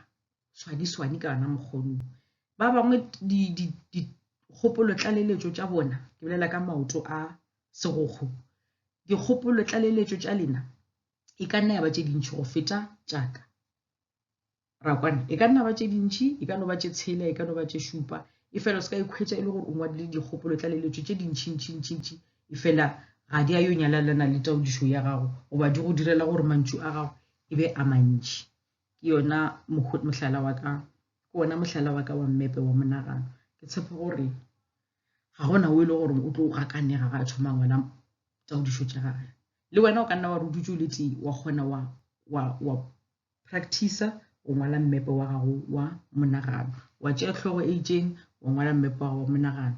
swani swani ka yona mokgonong ba bangwe dikgopolo tlaleletšo tša bona ke bolela ka maoto a segogo dikgopolo tlaleletšo tša lena e ka nna ya ba tše dintšhi go feta tšaka ra kwana e ka nna ba tše dintšhi e ka no ba tše tshela e ka no ba tše šupa e fela o se ka ikhwetša e le gore o ngwadile dikgopolo tlaleletšo tše dintšhintšhintšintši e fela ga di a yo nyalalana le taodišo ya gago goba di go direla gore mantšu a gago e be a mantši ke yona mohlala wa ka ke ona mohlala wa ka wa mmepe wa monagano ke tshepo gore ga gona o e le gore o tlo gakanega ga a thoma ngwala taodišo tša gage le wena o ka nna wa re o dutse o le tee wa kgona wa wa wa Practice o ngwala mmepe wa gago wa monagano. Wa tšea hlogo e itšeng, wa ngwala mmepe wa gago wa monagano.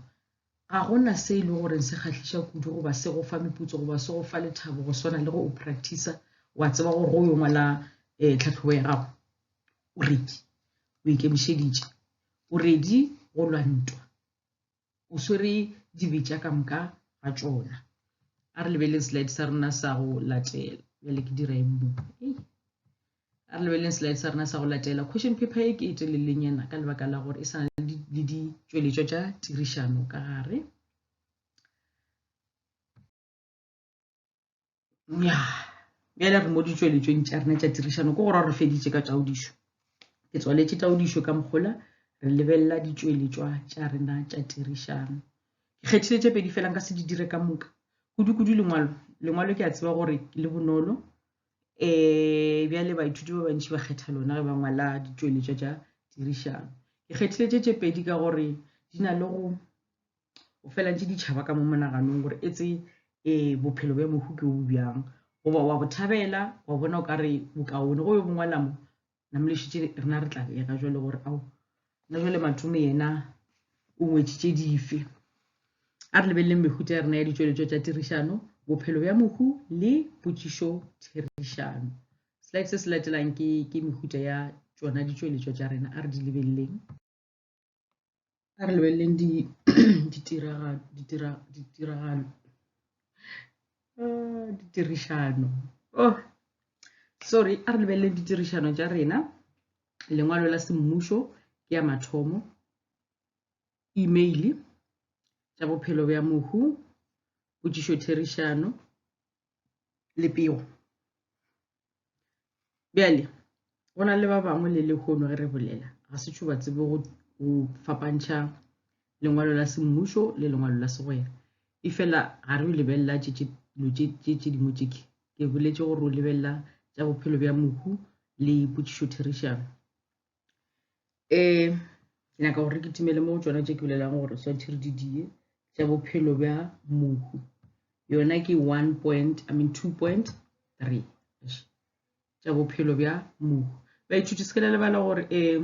Ga go na se e le gore se kgahliša kudu goba se go fa meputso goba se go fa lethabo go swana le go o practice wa tseba gore go yo ngwala um tlhatlhobo ya gago o redi o ikemišeditše o redi go lwa ntwa o swere dibe tša ka moka ga tšona. A re lebeleng slide sa rena sa go latela. Bjale ke dira eng mo? A re lebeleng slide sa rena sa go latela. Question paper e ke e telelenyana ka lebaka la gore e sa na le ditšweletšo tša tirišano ka gare. bjale re mo ditšweletšong tša rena tša tirišano ke gore re feditše ka taodišo ke tswaletše taodišo ka mokgola re lebelela ditšweletšwa tša rena tša tirišano ke kgethile tše pedi felang ka se di dire ka moka kudu-kudu lengwalo lengwalo ke a tseba gore le bonolo um bjale baithuti ba bantši ba kgetha lona ge ba ngwala ditšweletšwa tša tirišano ke kgethile tše tše pedi ka gore di na le go o felantše ditšhaba ka mo monaganong gore e tse um bophelo bja mohu ke bo bjang goba wa bo thabela wa bona o ka re bokaone go yo bongwalamo namolešitše rena re tla ya ka jale gore ao na jale matome yena o ngwetšitše dife a re lebeleleng mehuta ya rena ya ditšweletšo tša tirišano bophelo bja mohu le potšišo therišano slide se se latelang ke mehuta ya tšona ditšweletšo tša rena a re di lebeleleng a re lebeleleng ditiragalo ah, ditirišano oh sorry a re lebeleleng ditirišano tša rena lengwalo la semmušo ke ya mathomo email tša bophelo bja mohu potšišo therišano le pego bjale go na le ba bangwe le lehono ge re bolela ga se tšho ba tsebe go fapantšha lengwalo la semmušo le lengwalo la segwera e fela ga re lebelela tše tše dingwe tše ke ke boletše gore o lebelela tša bophelo bja mohu le potšišo therišano um nyaka gore ke timele mo tsona tše ke bolelago gore swantšhe re di die tša bophelo bja mohu yona ke one point i mean two point three tša bophelo bja mohu baithuti se ke la lebala gore um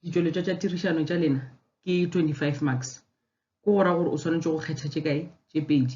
ditšweletšwa tša tirišano tša lena ke twenty five marks ke go ra gore o swanetše go kgetha tše kae tše pedi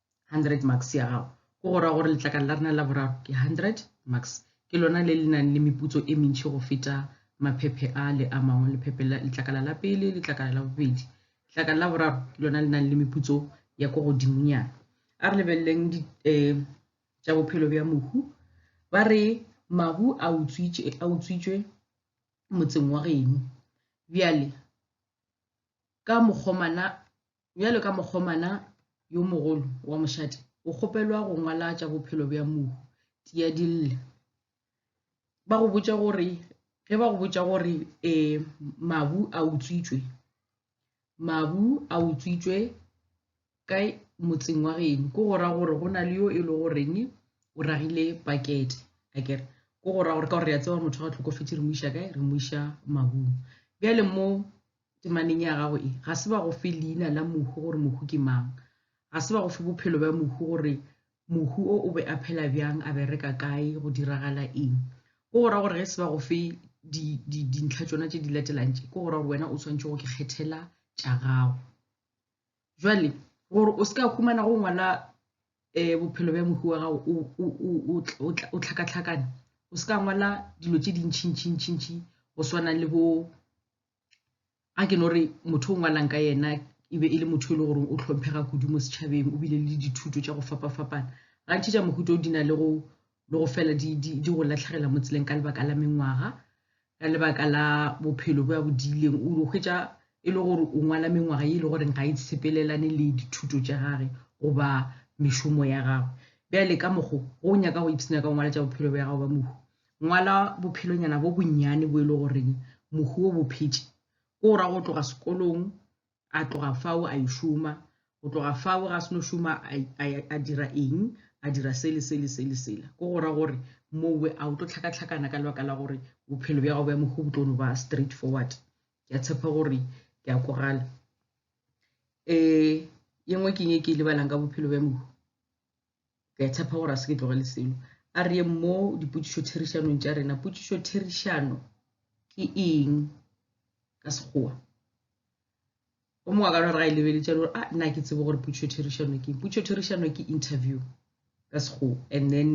100 marks ya gago go go ra gore letlakala la rena la boraro ke 100 marks ke lona le le nang le meputso e mentši go feta maphephe a le a mangwe lephephe la letlakala la pele letlakala la bobedi letlakala la boraro ke lona le nang le meputso ya ko godimonyana a re lebeleleng um eh, tša bophelo bja mohu ba re mahu a utswitšwe motseng wa geno bjale ka mokgomana bjalo ka mokgomana yo mogolo wa mošate o kgopelwa go ngwala tša bophelo bja mou tia dille ba go botša gore ge ba go botša gore um mabu a utswitswe mabu a utswitswe ka motseng wa geno ko go ra gore go na le yo e le goreng o ragile pakete a kere ko go ra gore ka gore re a tseba motho ga tlhokofetse re mo iša kae re mo iša mabung bjale mo temaneng ya gago e ga se ba go fe leina la mohu gore mohu ke mang ga se ba go fe bophelo bja mohu gore mohu o o be a phela bjang a bereka kae go diragala eng ko go ra gore ge se ba go fe dintlha tsona tse di latelang tše ko go ra gore wena o tshwanetse go ke kgethela tša gago jwale gore o se ka humana go ngwala um bophelo bja mohu wa gago o tlhakatlhakane o se ka ngwala dilo tse dintšhintšhintšhintšhi go swana le bo a ke no re motho o ngwalang ka yena e be e le motho e le goreng o tlhomphega kudu mo setšhabeng o bile le dithuto tša go fapa-fapana gantši tša mohuta o di na le go le go fela di, di, di go latlhegela mo tseleng ka lebaka la mengwaga ka lebaka la bophelo bo ya bodileng o hwetša e le gore o ngwala mengwaga e le goreng ga e sepelelane le dithuto tša gage goba mešomo ya gagwe bjale ka mokgo go nyaka go ipsena ka go ngwala tša bophelo bja gago ba mohu Ngwala bophelonyana bo bonnyane bo e le goreng mohu o bo phetše, ko ra go tloga sekolong a tloga fao a yo šoma, go tloga fao ga se no šoma a dira eng, a dira se le se le se le sela. Ko go ra gore mowe a o tlo tlhakatlhakana ka lebaka la gore bophelo bja gago bja mohu bo tlo no ba straight forward. Ke a tshepa gore ke a kwagala. E ye nngwe ke eng e ke e lebalang ka bophelo bja mohu? ke a tshepa gore a se ke tlogele selo a re yeng mo dipotšišo therišanong tša rena potšišo therišano ke eng ka sekgowa o mongwe ka nore ga e lebeletša gore a ah, nna ke tsebe gore potšišo therišano ke eng potšišo therišano ke interview ka sekgowa and then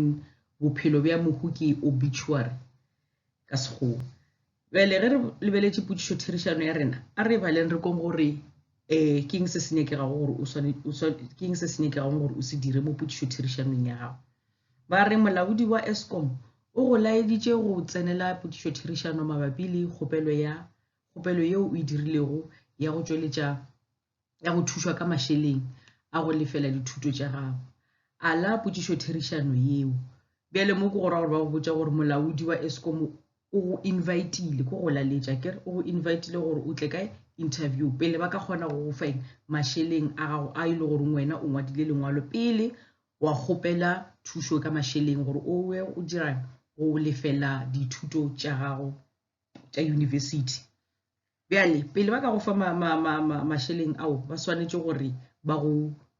bophelo bja mohu ke obituary ka sekgowa Bjale ge re lebeletše potšišotherišano ya rena, a re e baleng re kong gore um ke eng se se nyakegago gore o swane, o swane, ke eng se se nyakegago gore o se dire mo potšišotherišanong ya gago. Ba re molaodi wa Eskom o go laeditše go tsenela potšišotherišano mabapi le kgopelo ya kgopelo yeo o e dirilego ya go tšweletša ya go thušwa ka mašeleng a go lefela dithuto tša gago ala potšišotherišano yeo bjale mo ke go ra gore ba go botša gore molaodi wa escom o go invitile ko go laletša kere o go invitile gore o tle ka interview pele ba ka kgona go go feng mašeleng a gago a e le goreng wena o ngwadile lengwalo pele wa kgopela thušo ka mašeleng gore o we o dira go lefela dithuto tša gago tša yunibesithi bjale pele ba ka go fa mašeleng ao ba swanetše gore ba go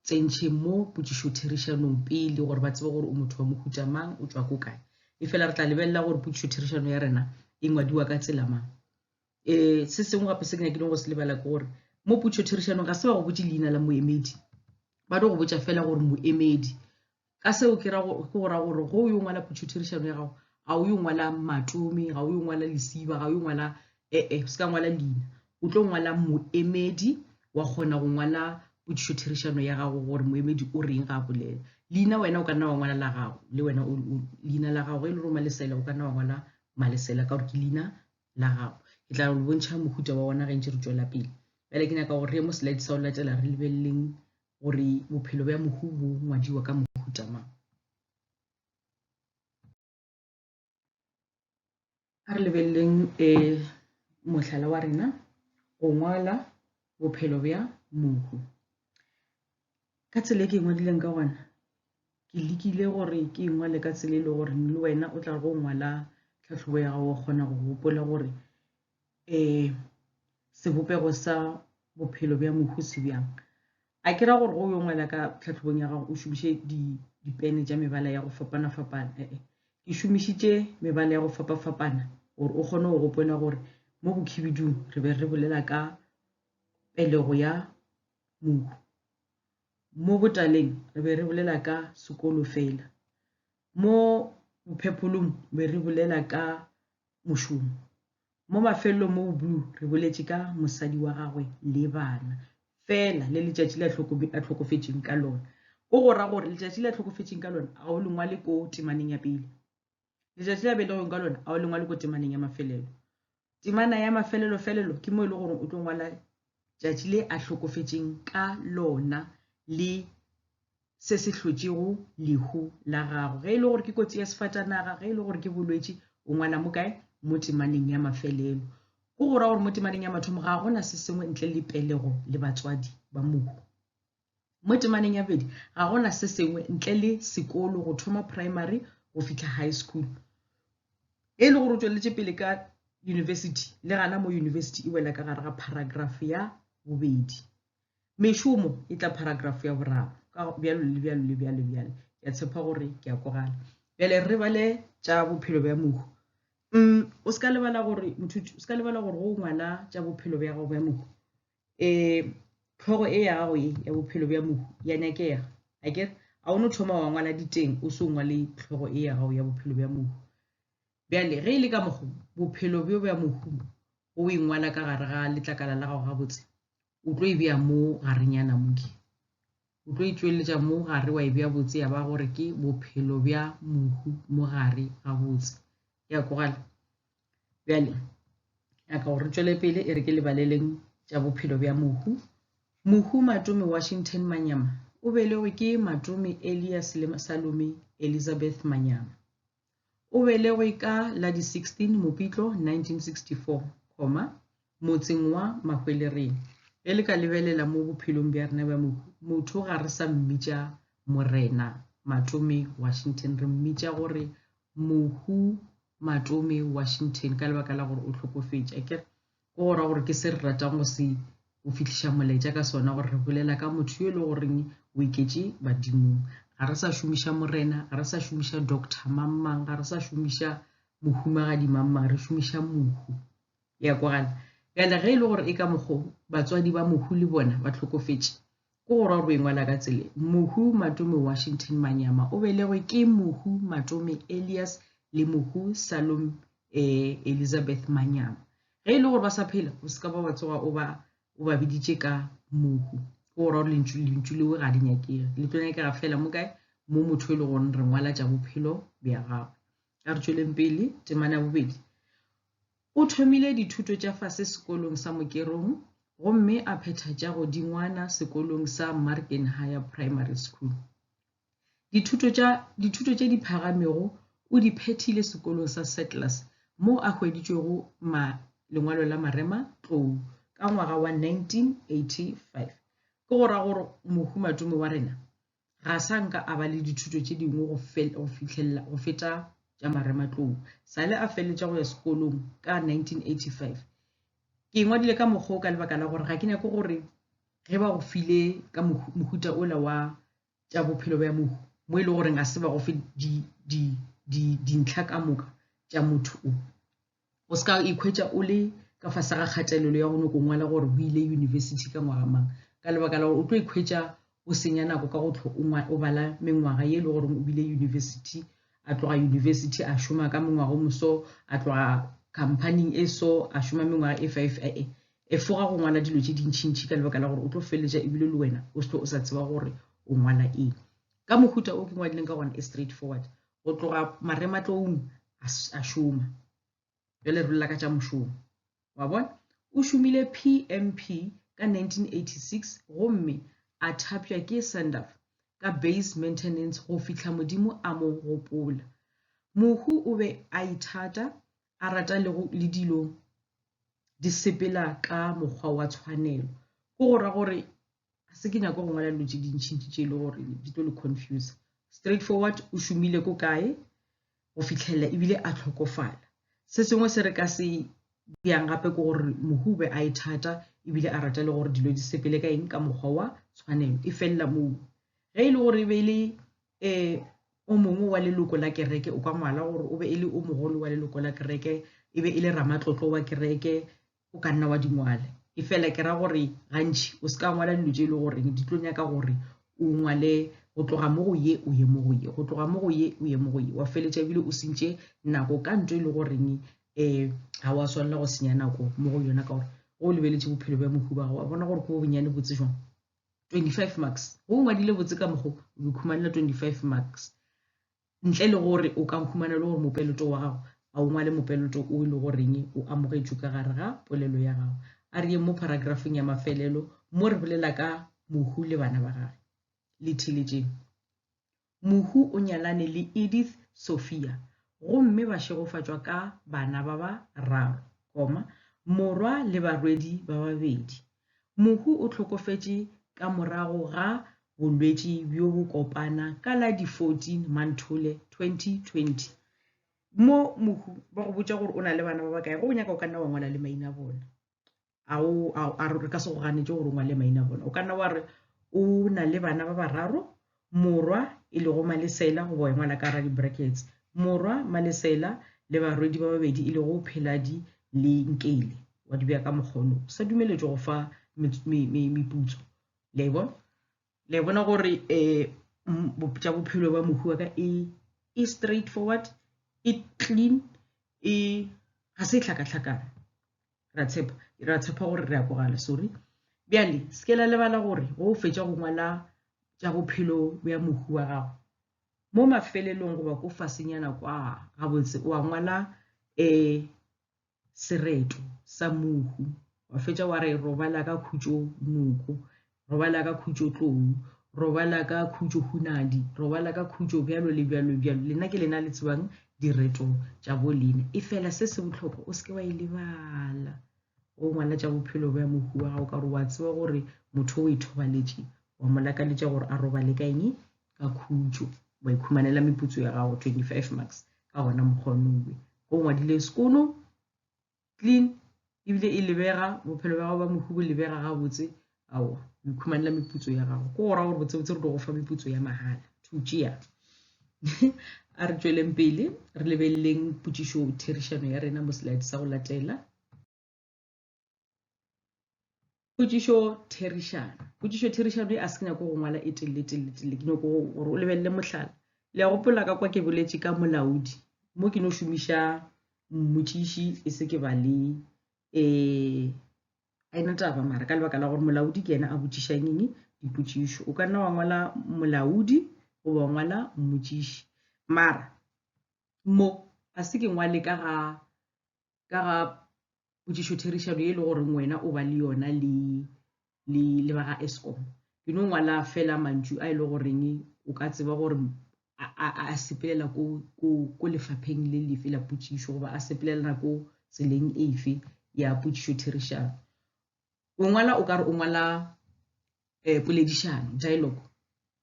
tsentšhe mo potšišotherišanong pele gore ba tsebe gore o motho wa mohuta mang o tšwa ko kae e fela re tla lebelela gore potšišotherišano ya rena e ngwadiwa ka tsela mang um se sengwe gape se ke nyakileng go se lebala ke gore mo potšišotherišanong ga se ba go botse leina la moemedi ba tlo go botša fela gore moemedi ka seo ke ra go go ra gore go yo ngwala phuthutirišano ya gago ga o yo ngwala matomi ga o yo ngwala lesiba ga o yo ngwala ee eh, se ka ngwala leina o tlo ngwala moemedi wa kgona go ngwala phuthutirišano ya gago gore moemedi o reng ga a bolela leina wena o ka nna wa ngwala la gago le wena leina la gago e le gore malesela o ka nna wa ngwala malesela ka gore ke leina la gago ke tla le bontšha mohuta wa ona ge ntse re tswela pele bjale ke nyaka gore re ye mo slide sa o latela re lebeleleng gore bophelo bja mohu bo ngwadiwa ka mohuta mang. A re lebeleleng e mohlala wa rena go ngwala bophelo bja mohu ka tsela e ke e ngwadileng ka gona ke lekile gore ke e ngwale ka tsela e le gore le wena o tla go ngwala tlhatlhobo ya gago o kgona go gopola gore eh, sebopego sa bophelo bja mohu se bjang a ke ra gore go yo ngwala ka tlhatlhobong ya gago o šomiše dipene tša mebala ya go fapana-fapana ee eh, eh. ke šomišitše mebala ya go fapa-fapana gore o kgone go gopola gore mo bokhibidung re be re bolela ka pelego ya mohu mo botaleng re be re bolela ka sekolo fela Mo bophepholong be re bolela ka mošomo. Mo mafelelong mo boblue re boletše ka mosadi wa gagwe le bana. Fela le letšatši le a hlokofetšeng ka lona. Go go ra gore letšatši le a hlokofetšeng ka lona a o le ngwale ko temaneng ya pele. Letšatši le a belegweng ka lona a o le ngwale ko temaneng ya mafelelo. Temana ya mafelelofelelo ke mo e le gore o tlo ngwala tšatši le a hlokofetšeng ka lona le se se hlotšego lehu la gago ge e le gore ke kotsi ya sefatanaga ge e le gore ke bolwetši o ngwala mo kae mo temaneng ya mafelelo go go ra gore mo temaneng ya mathomo ga gona se sengwe ntle le pelego le batswadi ba mohu Mo temaneng ya bobedi ga go na se sengwe ntle le sekolo go thoma primary go fihla high school. E le gore o tšweletše pele ka yunibesithi, le gana mo yunibesithi e wela ka gare ga paragrafo ya bobedi. Mešomo e tla paragrafo ya boraro ka bjalo le bjalo le bjalo bjalo. Ke a tshepa gore ke a kwagala. Bjale re bale tša bophelo bja mohu. Mm, o se ka lebala gore mothuti, o se ka lebala gore go ngwala tša bophelo bja gago bja mohu um hlogo e ya gago e ya bophelo bja mohu ya nyakega a kere a o no thoma wa ngwala diteng o se o ngwale hlogo e ya gago ya bophelo bja mohu bjale ge e le ka mokgo bophelo bjo bja mohu o e ngwala ka gare ga letlakala la gago gabotse o tlo e bea mo garenyana moke O tlo itšweletša mo gare wa e bja botse ya ba gore ke bophelo bja mohu mo gare ga botse. Ya kogala. Bjale, ya ka gore tšwele pele e re ke lebaleleng tša bophelo bja mohu. Mohu Matome Washington Manyama o belegwe ke Matome Elias le Salome Elizabeth Manyama. O belegwe ka la di 16 Mopitlo 1964, motseng wa Mahwelereng. Ge le ka lebelela mo bophelong bja rena bja motho, ga re sa mmitša Morena Matome Washington, re mmitša gore Mohu Matome Washington ka lebaka la gore o hlokofetše. Go ra gore ke se re ratang go se go fihliša molaetša ka sona gore re bolela ka motho yo e le goreng o iketše badimong. Ga re sa šomiša morena, ga re sa šomiša doctor mang-mang, ga re sa šomiša mohumagadi mang-mang, re šomiša mohu. Ya kwagala? Bjale ge e le gore e ka mokgo batswadi ba mohu le bona ba tlhokofetše, Ko go ra rue ngwana ka tsele Mohu Matome Washington Manyama o belegwe ke Mohu Matome Elias le Mohu Salom e Elizabeth Manyama. Ge e le gore ba sa phela o se ka ba wa tsoga o ba o ba biditše ka Mohu. Ko go ra gore lentšu lentšu leo ga le nyakege le tlo nyakega fela mo kae mo motho e le gore re ngwala tša bophelo bja gagwe. Ka re tšweleng pele temana ya bobedi. O thomile dithuto tša fase sekolong sa Mokerong gomme a phetha tša godingwana sekolong sa Marken Higher Primary School. Dithuto tša dithuto tše di phagamego o di phethile sekolong sa Settlers moo a hweditšwego ma lengwalo la marema tlou ka ngwaga wa 1985. Ke go ra gore mohumatume wa rena ga sa nka a ba le dithuto tše dingwe go fihlelela go feta tša marematlou sale a feleletša go ya sekolong ka 1985 ke ngwadile ka mokgwa o ka lebaka la gore ga ke nyake gore ge ba go file ka mohuta ola wa tša bophelo bja mohu mo e le goreng ga se ba go fe dintlha ka moka tša motho o o se ka ikhwetša o le ka fase ga kgatelelo ya go nyoko ngwala gore o ile yunibesithi ka ngwaga mang ka lebaka la gore o tlo ikhwetša o senya nako ka go tlho o bala mengwaga ye e le gore o bile yunibesithi a tloga yunibesithi a šoma ka mengwaga o moso a tloga companying e so a šoma mengwaga e five e e e foga go ngwala dilo tše dintšhintšhi ka lebaka la gore o tlo feleletša ebile le wena o se tlo o sa tseba gore o ngwala eng ka mohuta o ke ngwadileng ka gona e straight forward go tloga marematloung a šoma bjale re lela ka tša mošomo wa bona o šomile pmp ka 1986 gomme a thapša ke sandaf ka base maintenance go fihla modimo a mo gopola mohu o be a ithata a rata le dilo di sepela ka mokgwa wa tshwanelo go go ra gore se ke nyako go ngwala dilo tše dintšhintši tše e le gore di tlo le confuse straight forward o šomile ko kae go fitlhelela ebile a tlhokofala se sengwe se re ka se bjang gape ke gore mohube a e thata ebile a rata le gore dilo di sepele ka eng ka mokgwa wa tshwanelo e felela moo ge e le gore e be e le um o mongwe wa leloko la kereke o ka ngwala gore o be e le o mogolo wa leloko la kereke e be e le ramatlotlo wa kereke o ka nna wa di ngwala e fela ke ra gore gantši o se ka ngwala dilo tše e le goreng di tlo nyaka gore o ngwale go tloga mo go ye o ye mo go ye go tloga mo go ye o ye mo go ye wa feletša ebile o sentše nako ka nto e le goreng um ga wa swanela go senya nako mo go yona ka gore go o lebeletše bophelo bja mohubago wa bona gore ko bo bonyane botse jwang 25 marks go o ngwadile botse ka mokgo o ikhumanela 25 marks ntle le gore o ka humana e le gore mopeloto wa gago ga o ngwale mopeloto o e le goreng o amogetšwe ka gare ga polelo ya gago. A re yeng mo paragrafong ya mafelelo mo re bolela ka Mohu le bana ba gage. Le theletšeng. Mohu o nyalane le Edith Sophia gomme ba šegofatšwa ka bana ba ba raro, koma, morwa le barwedi ba babedi, Mohu o hlokofetše ka morago ga bolwetši bjo bo kopana ka la di 14 Manthole 2020. Mo mohu ba go botša gore o na le bana ba bakae, ge o nyaka o ka nna wa ngwala le maina a bona. A o a re ka se go ganetše gore o ngwale maina a bona. O ka nna wa re o na le bana ba bararo, Morwa, e lego Malesela, goba ya ngwana ka ra di-brackets, Morwa, Malesela, le barwedi ba babedi e lego Pheladi le Nkele. Wa di beya ka mokgono. O sa dumeletšwe go fa meputso. Le a bona? Le a bona gore um tša bophelo ba mohu wa ka e e straight forward, e clean, e ga se tlhakatlhakana. ra tshepa ra tshepa gore re a kwagala sorry bjale se ke la lebala gore go o fetša go ngwala tša bophelo bja mohu wa gago mo mafelelong goba ko fasenyana kwa gabotse wa ngwala um sereto sa mohu wa fetša wa re robala ka khutšo noko Robala ka khutšo tlou, robala ka khutšo hunadi, robala ka khutšo bjalo le bjalo bjalo. Lena ke lena le tsebang direto tša bo lena. E fela se se bohlokwa o seke wa e lebala. O ngwana tša bophelo bja mohu wa gago ka gore wa tseba gore motho o e thobaletše wa mo lakaletša gore a robale ka eng ka khutšo wa ikhumanela meputso ya gago 25 marks ka gona mokgonoe go ngwadile sekono clean ebile e lebega bophelo bja gago ba mohu bo lebega gabotse aowa o ikhumanela meputso ya gago ko go ra gore botsebotse re di go fa meputso ya mahala to tšea a re tšweleng pele re lebeleleng potšišo therišano ya rena mo slide sa go latela potšišo therišano potšišo therišano e a se nyako go ngwala e telle telle telle ke nyako gore o lebelele mohlala le ya gopola ka kwa ke boletše ka molaodi mo ke no šomiša mmotšiši e se ke ba le um a ena taba mara ka lebaka la gore molaodi ke yena a botšišang eng dipotšišo o ka nna wa ngwala molaodi goba wa ngwala mmotšiši mara mo a se ke ngwale ka ga ka ga potšišotherišano e le goreng wena o ba le yona le le le ba ga escom ke no ngwala fela mantšu a e le goreng o ka tseba gore a sepelela ko lefapheng le lefe la potšišo goba a sepelelela ko tseleng efe ya potšišotherišano o ngwala o ka re o ngwala eh, poledišano dialogue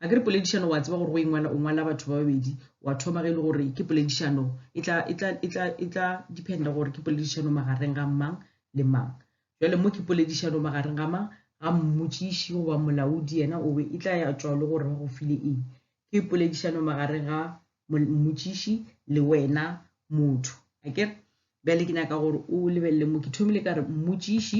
a ke re poledišano wa tseba gore go ingwala o ngwala batho ba babedi wa thoma ge e le gore ke poledišano e tla e e e dependa gore ke poledišano magareng ga mang le mang jale mo ke poledišano magareng ga mang ga mmotsiši goba molaodi yena o be e tla ya tswa le gore ba go file eng ke poledišano magareng ga mmotsiši le wena motho a ke bjale ke nyaka gore o lebelele mo ke thomile ka re mmotsiši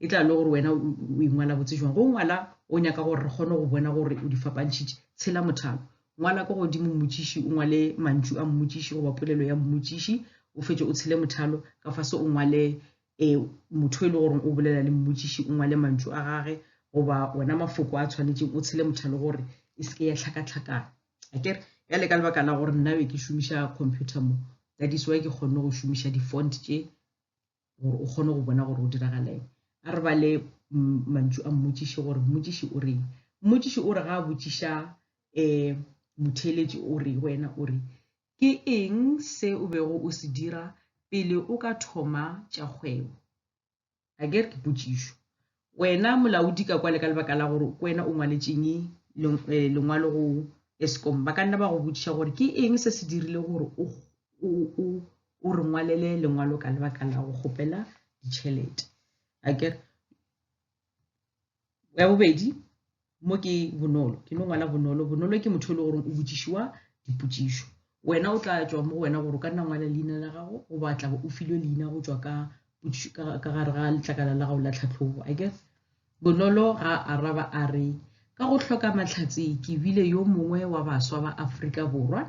e tla le gore wena o ingwala botse jwang go ngwala o nyaka gore re kgone go bona gore o di fapantšhitše tshela mothalo ngwala ko godimo mmotsiši o ngwale mantšu a mmotsiši goba polelo ya mmotsiši o fetše o tshele mothalo ka fase o ngwale um motho e le gore o bolela le mmotsiši o ngwale mantšu a gage goba ona mafoko a tshwanetseng o tshele mothalo gore e seke ya tlhakatlhakana akere ya le ka lebaka la gore nnabe ke šomiša computer mo that is why ke kgonne go šomiša di-font tše gore o kgone go bona gore o diragaleng a re ba le mantšu a mmotšiše gore mmotšiši o reng mmotšiši o re ga a botšiša um motheeletši o re wena o re ke eng se o bego o se dira pele o ka thoma tša kgwebo a ke re ke potšišo Wena molaodi ka kwa le ka lebaka la gore ke wena o ngwaletšeng eh, lengwalo go escom ba ka nna ba go botšiša gore ke eng se se dirile gore o re ngwalele lengwalo ka lebaka la go kgopela ditšhelete akere ya bobedi mo ke bonolo ke no ngwala bonolo bonolo ke motho e le gore o botšišiwa dipotšišo wena o tla tšwa mo go wena gore o ka nna ngwala leina la gago o batla o filwe leina go tšwa ka ka gare ga letlakala la gago la tlhatlhobo i guess bonolo ga araba a re ka go hloka mahlatse ke bile yo mongwe wa baswa ba afrika borwa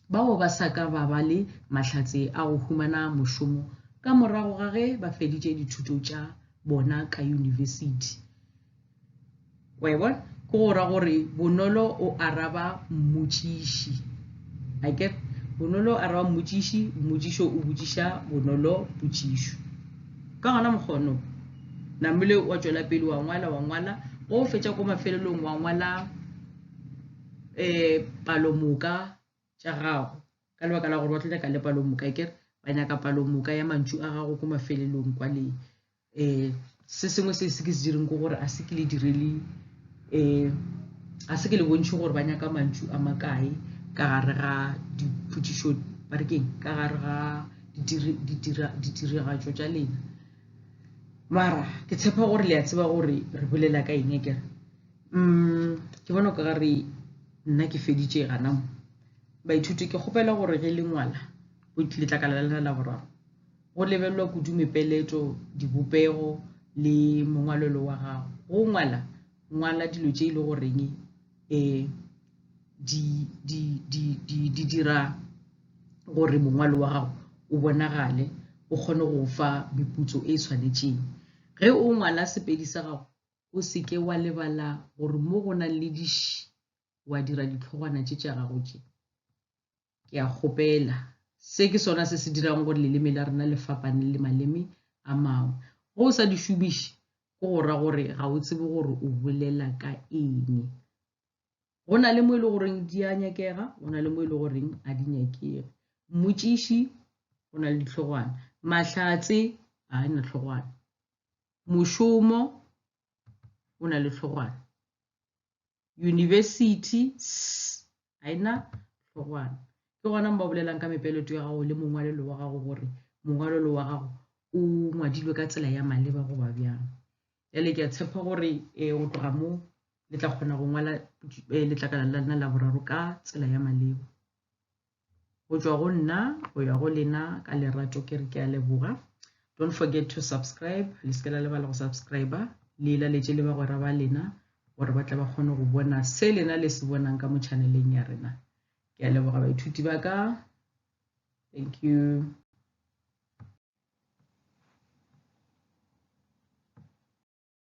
bao ba sa ka ba ba le mahlatse a go humana mošomo ka morago ga ge ba feditše dithuto tša bona ka yunibesithi. Wa e bona? Ke go ra gore bonolo o araba mmotšiši. I get bonolo o araba mmotšiši, mmotšišo o botšiša bonolo potšišo. Ka gona mokgono, namile wa tšwela pele wa ngwala, wa ngwala, go fetša ko mafelelong wa ngwala um palomoka tša gago ka lebaka la gore ba tlo nyaka le palomoka ke re ba nyaka palomoka ya mantšu a gago ko mafelelong kwa le um se sengwe se se ke se direng ke gore a se ke le direle um a se ke le bontšhe gore ba nyaka mantšu a makae ka gare ga dipotšišo ba re keng ka gare ga ditiragatšo tša lena mara ke tshepa gore le a tseba gore re bolela ka eng e kere mm, ke bona ka gare nna ke feditše gana mo baithuti ke kgopela gore ge le ngwala letlakala la lena la boraro go lebelelwa kudu mepeletšo dibopego le mongwalelo wa gago go ngwala ngwala dilo tše e le goreng um eh, di, di, di, di, di dira gore mongwalo wa gago o bonagale o kgone go fa meputso e e tshwanetšeng ge o ngwala sepedi sa gago o se ke wa lebala gore mo go nang le diši wa dira ditlhogwana tše tša gago tše ke a kgopela se ke sona se se dirang gore leleme la rena le fapane le maleme a mangwe go o sa di šomiše go go ra gore ga o tsebe gore o bolela ka eng go na le mo e le goreng di a nyakega go na le mo e le goreng a di nyakege mmotšiši go na le ditlhogwana mahlatse a na tlhogwana mošomo o na le tlhogwana university ga ena tlhogwana ke gona mo ba bolelang ka mepeleto ya gago le mongwalelo wa gago gore mongwalelo wa gago o ngwadilwe ka tsela ya maleba goba bjang jale ke a tshepa gore eh, go tloga mo le tla kgona go ngwala eh, letlakala la lena la boraro ka tsela ya maleba go tšwa go nna go ya go lena ka lerato ke re ke a leboga don't forget to subscribe le se ke la lebala go subscribe le e laletše le bagwera ba lena gore ba tla ba kgone go bona se lena le se bonang ka mo channeleng ya rena ke a leboga baithuti ba ka thank you